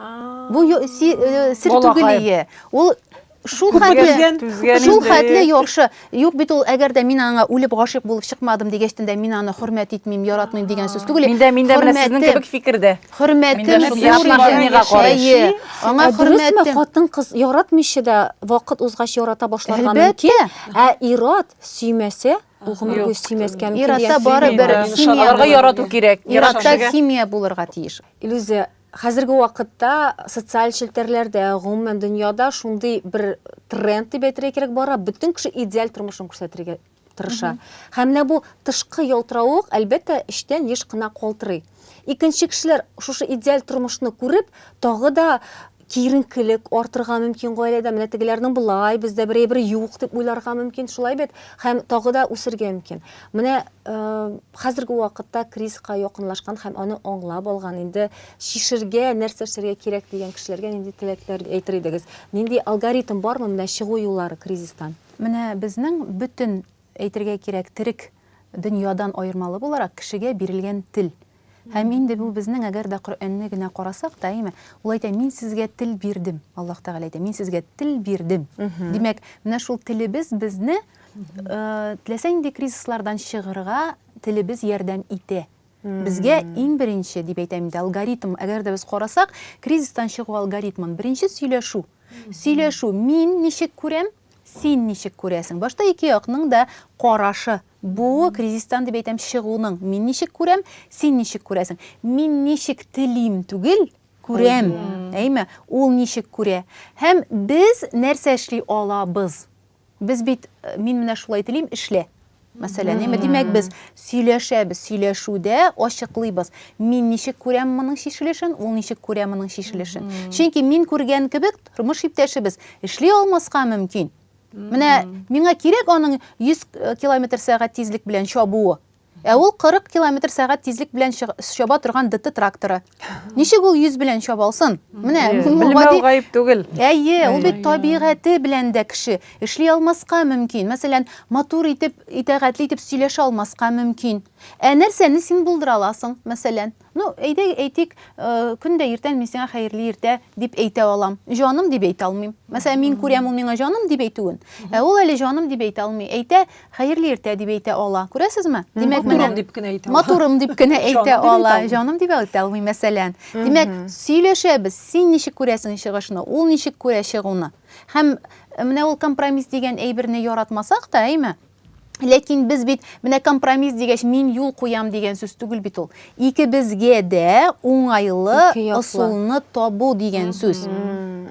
Бу э, сир түгел ие. Ул Шул хәтле, шул хәтле яхшы. Юк бит ул, әгәр дә мин аңа үлеп гашыйк булып чыкмадым дигәчтен дә мин аны хөрмәт итмим, яратмыйм дигән сүз түгел. Миндә миндә менә сезнең кебек фикердә. Хөрмәтем зур. Аңа хөрмәт. Хатын кыз яратмыйча да вакыт узгач ярата башларга мөмкин. Ә ират сөймәсә, ул гомер буе сөймәскә мөмкин. Иратта барыбер химия. Аларга ярату кирәк. Иратта химия булырга тиеш. Илүзә, Хәзерге вакытта социаль челтәрләрдә, гомумән дөньяда шундый бер тренд дип әйтергә кирәк бара, бөтен кеше идеаль тормышын күрсәтергә тырыша. Һәм менә бу тышкы ялтыравык, әлбәттә, эчтән еш кына калтырый. Икенче кешеләр шушы идеаль тормышны күреп, тагы да киеренкелек артырга мөмкин гаиләдә, менә тегеләрнең болай, бездә берәй-бер юк дип уйларга мөмкин, шулай бит? Һәм тагы да үсергә мөмкин. Менә хәзерге вакытта кризиска якынлашкан һәм аны аңлап алган, инде чишергә, нәрсә эшләргә кирәк дигән кешеләргә нинди теләкләр әйтер идегез? Нинди алгоритм бармы менә чыгу юллары кризистан? Менә безнең бөтен, әйтергә кирәк, терек дөньядан аермалы буларак, кешегә бирелгән тел. Һәм инде бу безнең, әгәр дә Коръәнне генә карасак та, әйеме? Ул әйтә, Мин сезгә тел бирдем. Аллаһ Тәгалә әйтә, Мин сезгә тел бирдем. Димәк, менә шул телебез безне, теләсә нинди кризислардан чыгырга телебез ярдәм итә. Безгә иң беренче, дип әйтәм инде, алгоритм, әгәр дә без карасак, кризистан чыгу алгоритмын, беренче сөйләшү. Сөйләшү, мин ничек күрәм, Син ничек күрәсең? Башта ике якның да карашы бу кризистан дип әйтәм чыгуның. Мин ничек күрәм, син ничек күрәсең? Мин ничек телим түгел, күрәм. Әйме? Ул ничек күрә? Һәм без нәрсә эшли алабыз? Без бит, мин менә шулай телим, эшлә. Мәсәлән, әмма димәк без сөйләшәбез, сөйләшүдә ачыклыйбыз. Мин ничек күрәм моның чишелешен, ул ничек күрә моның чишелешен. Чөнки мин күргән кебек тормыш иптәшебез эшли алмаска мөмкин. Менә миңа кирәк аның 100 э, километр сәгать тизлек белән чабуы. Ә ул 40 километр сәгать тизлек белән чаба торган ДТ тракторы. Ничек ул йөз белән чабалсын? Менә Мулгади гаеп түгел. Әйе, ул бит табигате белән дә кеше эшли алмаска мөмкин. Мәсәлән, матур итеп, итәгатьле итеп сөйләшә алмаска мөмкин. Ә нәрсәне син булдыра аласың, мәсәлән? Ну, әйдә, әйтик, э, көн дә иртән мин сиңа хәерле иртә дип әйтә алам. Җаным дип әйтә алмыйм. Мәсәлән, мин күрәм ул миңа җаным дип әйтүен. Ә ул әле җаным дип әйтә алмый. Әйтә, Хәерле иртә дип әйтә ала. Күрәсезме? Димәк, менә Матурым дип кенә әйтә ала. Матурым дип кенә әйтә ала. Җаным дип әйтә алмый, мәсәлән. Димәк, сөйләшәбез. Син ничек күрәсең чыгышны? Ул ничек күрә чыгуны? Һәм менә ул компромисс дигән әйберне яратмасак та, әйме? Ләкин без бит менә компромисс дигәч, мин юл куям дигән сүз түгел бит ул. Икебезгә дә уңайлы ысулны табу дигән сүз.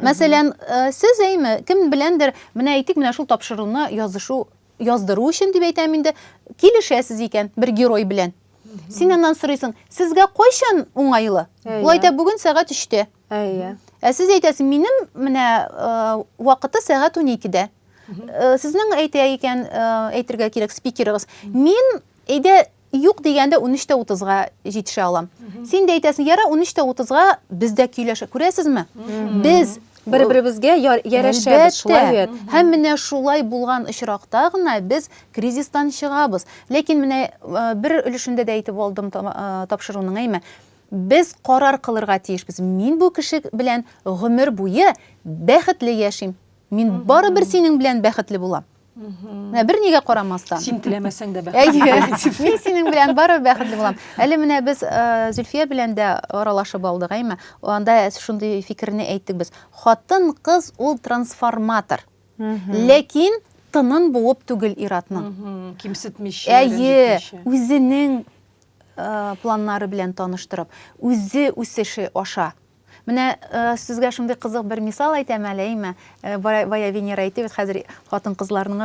Мәсәлән, э, сез әйме, кем беләндер Менә әйтик, менә шул тапшыруны язышу, яздыру өчен дип әйтәм инде, килешәсез икән бер герой белән. Син аннан сорыйсың, сезгә кайчан уңайлы? Ул әйтә, бүген сәгать өчтә. Ә сез әйтәсез, минем менә вакыты сәгать уникедә. Сезнең әйтә икән, әйтергә кирәк спикерыгыз. Мин әйдә Юк дигәндә унөч тә утызга җитешә алам. Син дә әйтәсең, яра унөч тә утызга без дә көйләшә. Күрәсезме? Без бер-беребезгә ярәшәбез, шулай бит. Һәм менә шулай булган очракта гына без кризистан чыгабыз. Ләкин менә бер өлешендә дә әйтеп алдым тапшыруның, әйме? Без карар кылырга тиешбез. Мин бу кеше белән гомер буе бәхетле яшим. Мин барыбер синең белән бәхетле булам. Менә бер нигә карамастан. Син теләмәсәң дә бәхетле. Әйе. Мин синең белән барыбер бәхетле булам. Әле менә без э, Зөлфия белән дә аралашып алдык, әйме? Анда шундый фикерне әйттек без. Хатын кыз ул трансформатор. Ләкин тынын буып түгел иратның. Кимсетмичә, Әйе, үзенең э, планнары белән таныштырып, үзе үсеше аша Менә сезгә шундый кызык бер мисал әйтәм әле, әйме? Бая Венера әйтте бит, хәзер хатын-кызларның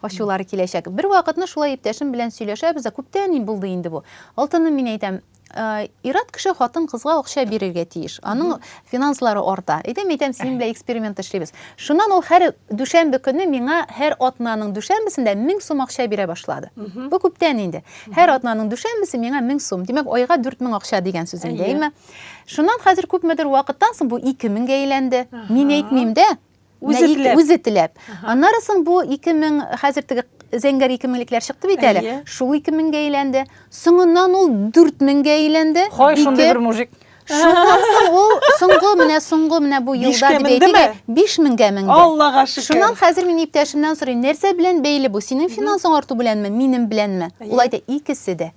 ачулары киләчәк. Бер вакытны шулай иптәшем белән сөйләшәбез, күптән булды инде бу. Алтыным мин әйтәм, ират кеше хатын-кызга акча бирергә тиеш. Аның финанслары арта. Әйтәм, әйтәм, синең белән эксперимент эшлибез. Шуннан ул һәр дүшәмбе көне миңа һәр атнаның дүшәмбесендә 1000 сум акча бирә башлады. Бу күптән инде. Һәр атнаның дүшәмбесе миңа 1000 сум. Димәк, айга 4000 акча дигән сүз инде, әйме? Шуннан хәзер күпмедер вакыттан соң бу 2000 гә әйләнде. Мин әйтмим дә, үзе теләп. Үзе теләп. Аннары соң бу 2000 хәзер теге зәңгәр 2000лекләр чыкты бит әле. Шул 2000 гә әйләнде. Соңыннан ул 4000 гә әйләнде. Хай шундый бер мужик. Шуннан соң ул соңгы менә соңгы менә бу елда дип әйтик, 5000 гә менде. Аллага шөкер. Шуннан хәзер мин иптәшемнән сорыйм, нәрсә белән бәйле бу? Синең финансың арту беләнме, минем беләнме? Ул әйтә, икесе дә.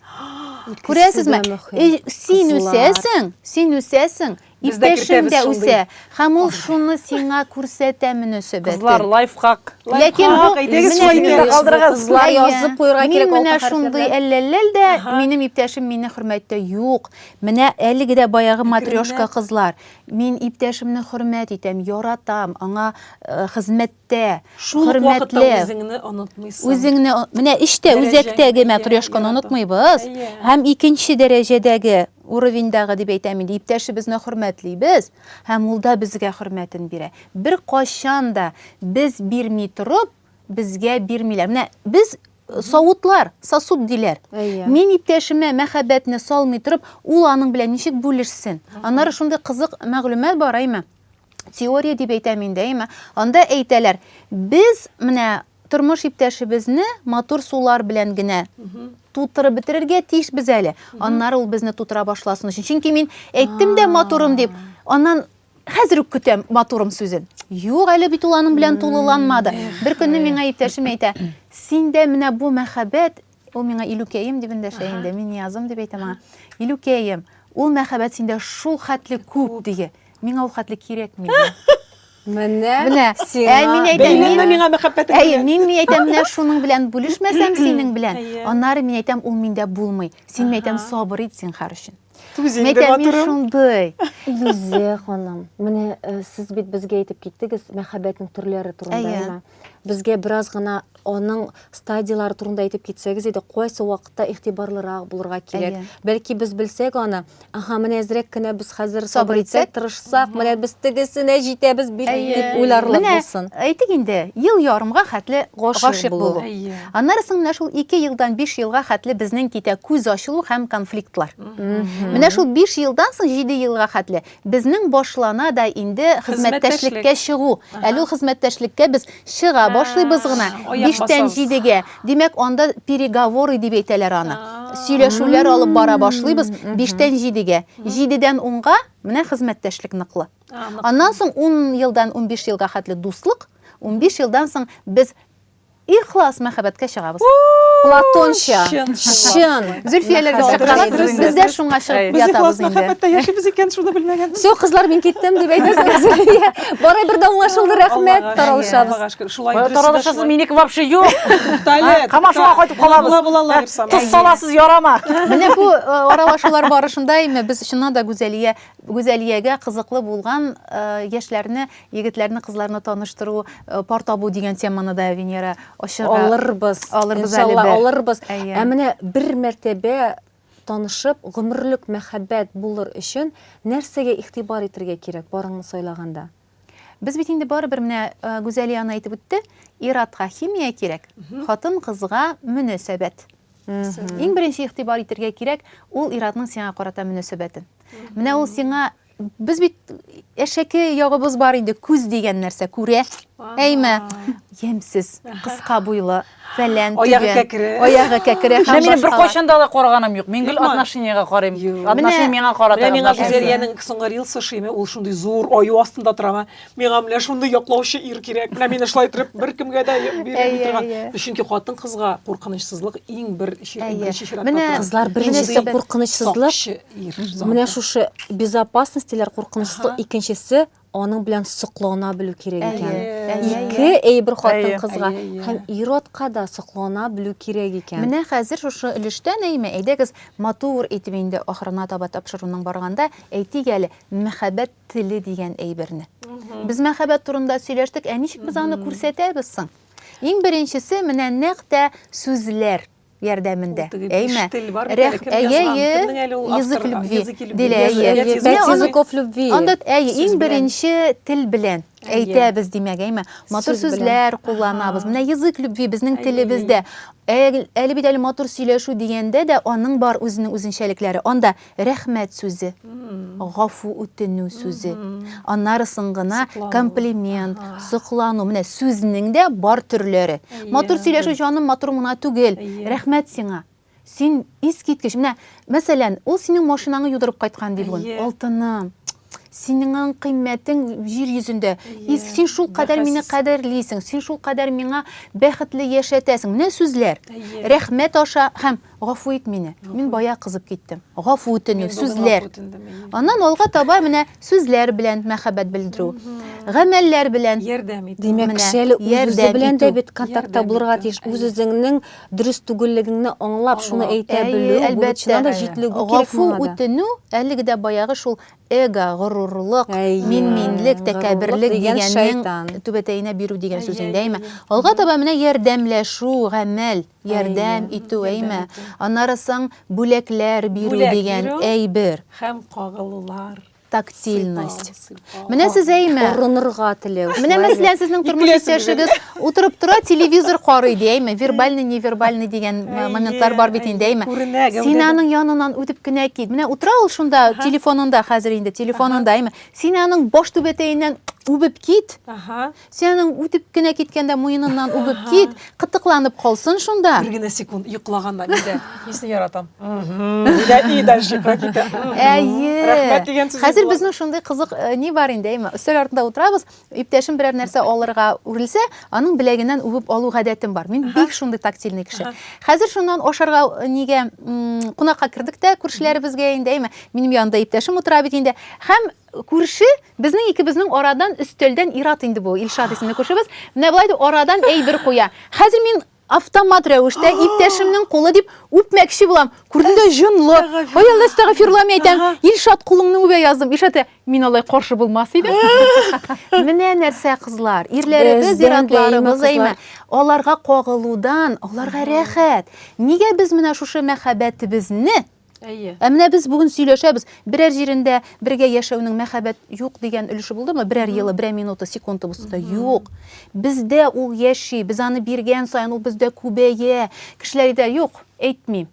Күрәсезме? Э, син үсәсең, син үсәсең, иптәшең дә үсә. Һәм ул шуны сиңа күрсәтә мөнәсәбәтен. Кызлар, лайфхак. Ләкин бу кызлар язып куярга кирәк. Мин менә шундый әлләлләл дә, минем иптәшем мине хөрмәттә юк. Менә әлеге дә баягы матрешка кызлар. Мин иптәшемне хөрмәт итәм, яратам, аңа э, хезмәт тә хөрмәтле үзеңне онытмыйсың үзеңне менә эштә үзәктәге матрешканы онытмыйбыз һәм икенче дәрәҗәдәге уровеньдагы дип әйтәм инде иптәшебезне хөрмәтлибез һәм ул да безгә хөрмәтен бирә бер кайчан да без бирми торып безгә бирмиләр менә без савытлар сосуд диләр мин иптәшемә мәхәббәтне салмый торып ул аның белән ничек бүлешсен аннары шундый кызык мәгълүмат бар әйме теория дип әйтәм инде, әйме? Анда әйтәләр, без менә тормыш иптәшебезне матур сулар белән генә тутырып бетерергә тиеш без әле. Аннары ул безне тутыра башласын өчен. Чөнки мин әйттем дә матурым дип, аннан хәзер үк көтәм матурым сүзен. Юк, әле бит ул аның белән тулыланмады. Бер көнне миңа иптәшем әйтә, синдә менә бу мәхәббәт Ул миңа Илүкәем дип эндәшә инде, мин Ниязым дип әйтәм аңа. Илүкәем, ул мәхәббәт синдә шул хәтле күп, диге. Миңа ул хәтле кирәкми. Менә, менә, ә мин әйтәм, мин миңа мәхәббәт. Әйе, мин мин әйтәм, менә шуның белән бүлешмәсәм синең белән, аннары мин әйтәм, ул миндә булмый. Син әйтәм, сабыр ит, зинһар өчен. Тузин дип атырым. шундый. Илүзә ханым, менә э, сез бит безгә әйтеп киттегез мәхәббәтнең төрләре турында, әйме? Безгә бераз гына аның стадияләре турында әйтеп китсәгез иде, кайсы вакытта игътибарлырак булырга кирәк. Бәлки без белсәк аны, аха, менә әзрәк кенә без хәзер сабыр итсәк, тырышсак, менә без тегесенә җитәбез бит дип уйларлык булсын. Әйтик инде, ел ярымга хәтле гашыйк булу. Аннары соң менә шул ике елдан биш елга хәтле безнең китә күз ачылу һәм конфликтлар. Менә шул биш елдан соң җиде елга хәтле безнең башлана да инде хезмәттәшлеккә чыгу. Әле ул хезмәттәшлеккә без чыга башлыйбыз гына, биштән җидегә. Димәк, анда переговоры дип әйтәләр аны. Сөйләшүләр алып бара башлыйбыз биштән җидегә. Җидедән унга, менә хезмәттәшлек ныклы. Аннан соң ун елдан унбиш елга хәтле дуслык, унбиш елдан соң без Ихлас мәхәббәткә чыгабыз. Платонча. Чын. Чын. Зөлфияләргә Мәхәббәт чыгабыз. дөрес, дөрес, Без дә дөрес. шуңа чыгып Әй. Без ятабыз ихлас инде. мәхәббәттә яшибез икән, шуны белмәгән. Все, кызлар, мин киттем, дип әйтәсез. Зөлфия. Барай бер дә уңлашылды, рәхмәт. Аллага Таралышабыз. Аллага шөкер. Шулай дөресе дә Таралышасыз, шулай. минеке вообще юк. Туктале, Камашуга кайтып Була, калабыз. була, була, Лаер сама. Тоз саласыз, ярама. Менә бу э, аралашулар барышында әйме без чыннан да Гүзәлия Гүзәлиягә кызыклы булган э, яшьләрне Егетләрне, кызларны таныштыру, пар табу дигән теманы да Венера ачыга. Алырбыз. Алырбыз әле. Иншалла алырбыз. Ә менә бер мәртәбә танышып, гомерлек мәхәббәт булыр өчен нәрсәгә игътибар итәргә кирәк парыңны сайлаганда? Без бит инде барыбер менә Гүзәлия аны әйтеп үтте, ир-атка химия кирәк, хатын-кызга мөнәсәбәт. Иң беренче игътибар итәргә кирәк ул ир-атның сиңа карата мөнәсәбәтен. Менә ул сиңа Без бит әшәке ягыбыз бар инде, күз дигән нәрсә күрә. Әйме, ямьсез, кыска буйлы, фәлән, аягы кәкре. Аягы кәкре. Менә минем бер кайчан да алай караганым юк. Мин гел отношениягә карыйм. Отношение миңа карата. Менә миңа Гүзәлиянең соңгы рилсы шиме, ул шундый зур аю астында тора. миңа менә шундый яклаучы ир кирәк менә мине шулай иттереп беркемгә дә бирми торган чөнки хатын кызга куркынычсызлык иң бер беренче чиратта менә кызлар беренчесе куркынычсызлык менә шушы безопасность диләр куркынычсызлык икенчесе аның белән соклана белү кирәк икән ике әйбер хатын кызга һәм ир атка да соклана белү кирәк икән менә хәзер шушы өлештә нәймә әйдәгез матур итеп инде ахырына таба тапшыруның барганда әйтик әле мәхәббәт теле дигән әйберне. Без мәхәббәт турында сөйләштек, ә ничек без аны күрсәтәбез соң? Иң беренчесе менә нәкъ тә сүзләр ярдәмендә. Әйме? Рәх, әйе, язык любви, дилә, әйе. Языков любви. Анда, әйе, иң беренче тел белән әйтәбез, димәк, әйме? Матур сүзләр кулланабыз. Менә язык любви безнең телебездә. Әле бит әле матур сөйләшү дигәндә дә аның бар үзенең үзенчәлекләре. Анда Рәхмәт сүзе, гафу үтенү сүзе, аннары соң гына комплимент, соклану, менә сүзнең дә бар төрләре. Матур сөйләшү, җаным, матур гына түгел, рәхмәт сиңа, син искиткеч, менә, мәсәлән, ул синең машинаңны юдырып кайткан ди бүген, алтыным, синең кыйммәтең җир йөзендә, син шулкадәр мине кадерлисең, син шулкадәр миңа бәхетле яшәтәсең, менә сүзләр, рәхмәт аша һәм. Гафу ит мине. Мин бая кызып киттем. Гафу үтенү, сүзләр. Аннан алга таба менә сүзләр белән мәхәббәт белдерү. Гамәлләр белән ярдәм итү. Димәк, кешеле үзе белән дә бит контактта булырга тиеш. Үз үзеңнең дөрес түгеллегеңне аңлап, шуны әйтә белү, әлбәттә, да җитлегү кирәк. Гафу үтенү, әлеге дә баягы шул эго, горурлык, мин-минлек, тәкәбберлек дигәннең түбәтәенә бирү дигән сүз инде, әйме? Алга таба менә ярдәмләшү, гамәл. ярдәм итү, әйме? Аннары соң бүләкләр бирү дигән әйбер. Һәм кагылулар. Тактильность. Менә сез әйме? Орынырга теләү. Менә мәсәлән сезнең тормыш иптәшегез утырып тора, телевизор карый ди, әйме? Вербальный, невербальный дигән моментлар бар бит инде, әйме? Син аның яныннан үтеп кенә кит. Менә утыра ул шунда телефонында хәзер инде, телефонында, әйме? Син аның баш түбәтәеннән үбеп кит. Сенең үтеп кенә киткәндә муеныннан үбеп кит, кытыкланып калсын шунда. Бер генә секунд йоклаганда нидә? Нисен яратам? Нидә и дальше китә? Әйе. Рәхмәт дигән сүз. Хәзер безнең шундый кызык э, ни бар инде, әйме? Өстәл артында утырабыз, иптәшем берәр нәрсә алырга үрелсә, аның беләгеннән үбеп алу гадәтем бар. Мин бик шундый тактильный кеше. Хәзер шуннан ашарга э, нигә кунакка кердек тә күршеләребезгә инде, әйме? Минем янында иптәшем утыра бит инде. Һәм Күрше, безнең икебезнең арадан өстәлдән ир-ат инде бу, Илшат исемле күршебез, менә болай дип арадан әйбер куя. Хәзер мин автомат рәвештә иптәшемнең кулы дип үпмәкче булам. Күрдем дә җонлы. Ай Алла, әстәгъфирулла, мин әйтәм, Илшат, кулыңны үбә яздым. Илшат, мин алай каршы булмас идем. Менә нәрсә, кызлар, ирләребез, ир-атларыбыз әйме, аларга кагылудан, аларга рәхәт. Нигә без менә шушы мәхәббәтебезне Әйе. Ә менә без бүген сөйләшәбез. Берәр җирендә бергә яшәүнең мәхәббәт юк дигән өлеше булдымы? Берәр елы, берәр минуты, секунды булса да юк. Бездә ул яши, без аны биргән саен ул бездә күбәя. Кешеләр әйтә, юк, әйтмим.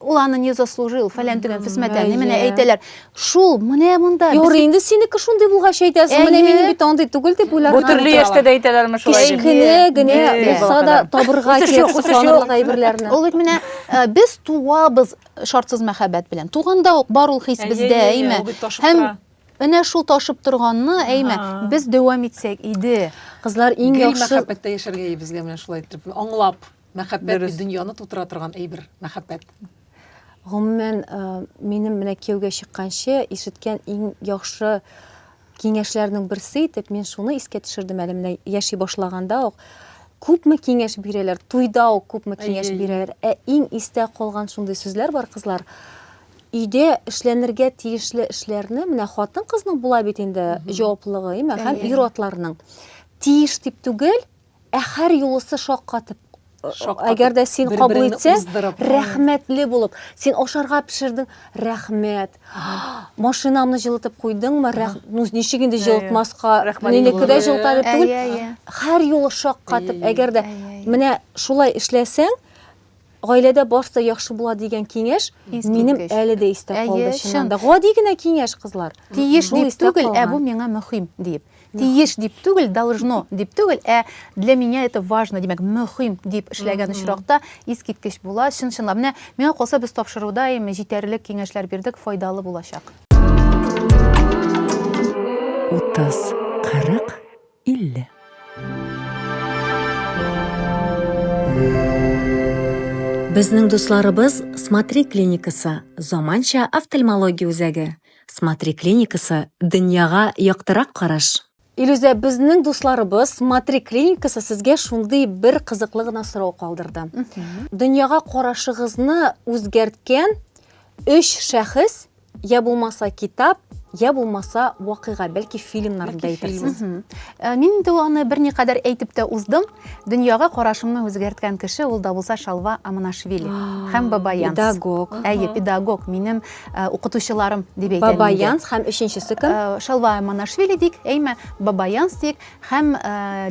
Ул аны не заслужил, фәлән түгән, фисмәтән, менә әйтәләр. Шул, менә монда. Юр, инде синеке шундый булгач әйтәсең. Менә мине бит андый түгел дип уйлап. Бу төрле яшьтә дә әйтәләрме шулай? Кечкенә генә булса да табырга кирәк сокланырлык әйберләрне. Ул бит менә э, без туабыз шартсыз мәхәббәт белән. Туганда ук бар ул хис бездә, әйме? Һәм менә шул ташып торганны, әйме, без дәвам итсәк иде. Кызлар иң яхшы мәхәббәттә яшәргә безгә менә шулай итеп аңлап. Мәхәббәт дөньяны тутыра торган әйбер, мәхәббәт. Гомумән, минем менә кияүгә чыкканчы ишеткән иң яхшы киңәшләрнең берсе итеп мин шуны искә төшердем әле менә яши башлаганда ук күпме киңәш бирәләр туйда ук күпме киңәш бирәләр ә иң истә калган шундый сүзләр бар кызлар өйдә эшләнергә тиешле эшләрне менә хатын кызның була бит инде җаваплыгы әйме һәм ир атларның тиеш дип түгел Ә хәр юлысы шаккатып әгәр дә син кабул итсә рәхмәтле булып син ашарга пешердең рәхмәт машинамны җылытып куйдыңмы ну ничек инде җылытмаска минеке дә җылыта дип түгел һәр юлы шаккатып әгәр дә менә шулай эшләсәң Гаиләдә барсы да яхшы була дигән киңәш минем әле дә истә калды чыннан да. Гади генә киңәш, кызлар. Тиеш дип түгел, ә бу миңа мөһим дип. Тиеш дип түгел, должно дип түгел, ә для меня это важно, димәк, мөһим дип эшләгән очракта искиткеч була, чын-чынлап. Менә миңа калса, без тапшыруда им җитәрлек киңәшләр бирдек, файдалы булачак. Утыз, кырык. 50. Безнең дусларыбыз Смотри клиникасы, заманча офтальмология үзәге. Смотри клиникасы, дөньяга яктырак караш. Илюзә, безнең дусларыбыз Смотри клиникасы сезгә шундый бер кызыклы гына сорау калдырды. Дөньяга карашыгызны үзгәрткән өч шәхес Я булмаса китап, я булмаса вакыйга, бәлки фильмнарны да әйтерсез. Э, мин инде аны берникадәр әйтеп тә уздым. Дөньяга карашымны үзгәрткән кеше ул да булса Шалва Аманашвили һәм Бабаянс. Педагог. Әйе, педагог, минем э, укытучыларым дип әйтәм. Бабаянс һәм өченчесе кем? Э, Шалва Аманашвили дик, әйме, Бабаянс дик. Һәм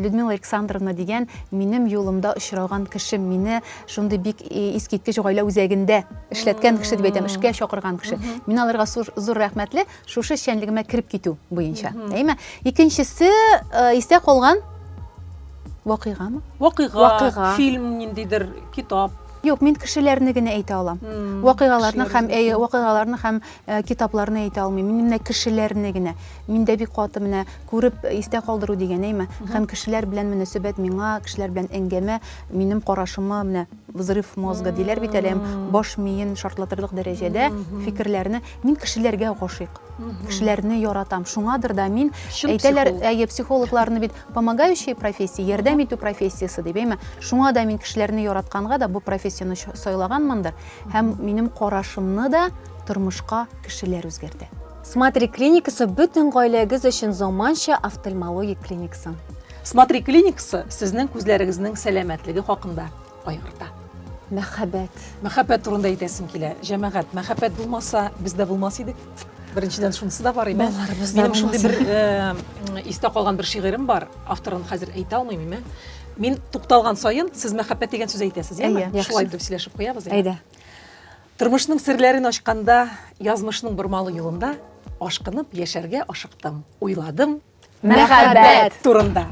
Людмила Александровна дигән минем юлымда очраган кешем, мине шундый бик искиткеч гаилә үзәгендә эшләткән кеше дип әйтәм, эшкә чакырган кеше. Мин аларга зур рәхмәтле шушы эшчәнлегемә кереп китү буенча. Әйме? Икенчесе истә калган вакыйгамы? Вакыйга, вакыйга. фильм ниндидер, китап. Юк, мин кешеләрне генә әйтә алам. Вакыйгаларны һәм вакыйгаларны һәм Китапларны әйтә алмыйм, мин менә кешеләрне генә. Миндә бик каты менә күреп истә калдыру дигән әйме. Һәм кешеләр белән мөнәсәбәт миңа, кешеләр белән әңгәмә минем карашыма менә взрыв мозга диләр бит әле, баш миен шартлатырлык дәрәҗәдә фикерләрне. Мин кешеләргә гашыйк. Кешеләрне яратам. Шуңадыр да мин, әйтәләр, әйе, психологларны бит помогающая профессия, ярдәм итү профессиясе дип, әйме. Шуңа да мин кешеләрне яратканга да бу профессияне сайлаганмындыр. Һәм минем карашымны да. тормышка кешеләр үзгәрде. Смотри клиникасы бөтен гаиләгез өчен заманча офтальмологик клиникасын. Смотри клиникасы сезнең күзләрегезнең сәламәтлеге хакында кайгырта. Мәхәббәт. Мәхәббәт турында әйтәсем килә. Җәмәгать, мәхәббәт булмаса, без дә булмас идек. Беренчедән шунысы да бар име? Минем шундый бер э, истә калган бер шигырем бар. Авторын хәзер әйтә алмыйм име? Мин тукталган саен сез мәхәббәт дигән сүз әйтәсез, яме? Шулай итеп сөйләшеп куябыз. Әйдә. Тормышның серләрен ачканда, язмышның бормалы юлында ашкынып яшәргә ашыктым. Уйладым мәхәббәт турында.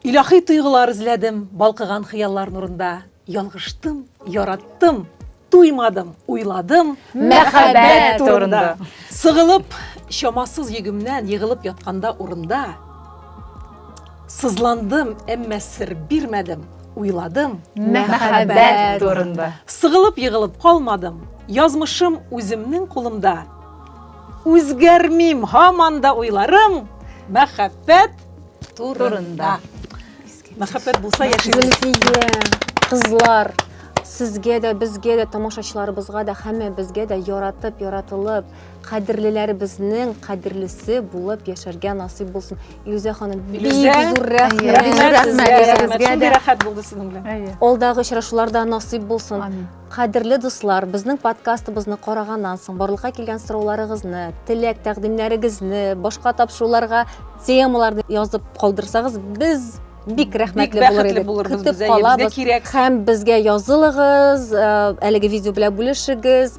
Илахи тойгылар эзләдем, балкыган хыяллар нурында. Ялгыштым, яраттым, туймадым, уйладым мәхәббәт турында. Сыгылып, чамасыз егемнән егылып ятканда урында Сызландым, әмма сер бирмәдем, уйладым. Мәхәббәт турында. Сыгылып-егылып калмадым, язмышым үземнең кулымда. Үзгәрмим, һаман да уйларым мәхәббәт турында. Мәхәббәт булса яшибез. Зөлфия, кызлар, сезгә дә, безгә дә, тамашачыларыбызга да, һәммәбезгә дә яратып, яратылып, Кадерлеләребезнең кадерлесе булып яшәргә насыйп булсын. Илүзә ханым, бик Илүзә, зур рәхмәт. рәхмәт Бик рәхмәт сезгә, сезгә, рәхмәт. үзегезгә Шундый дә. рәхәт булды сезнең белән. Әйе. Алдагы очрашулар да насыйп булсын. Амин. Кадерле дуслар, безнең подкастыбызны караганнан соң барлыкка килгән сорауларыгызны, теләк тәкъдимнәрегезне, башка тапшыруларга темаларны язып калдырсагыз, без бик рәхмәтле Бик булыр бәхетле идек. булырбыз Көтеп без, әйе, безгә калабыз кирәк. һәм безгә язылыгыз, э, әлеге видео белән бүлешегез.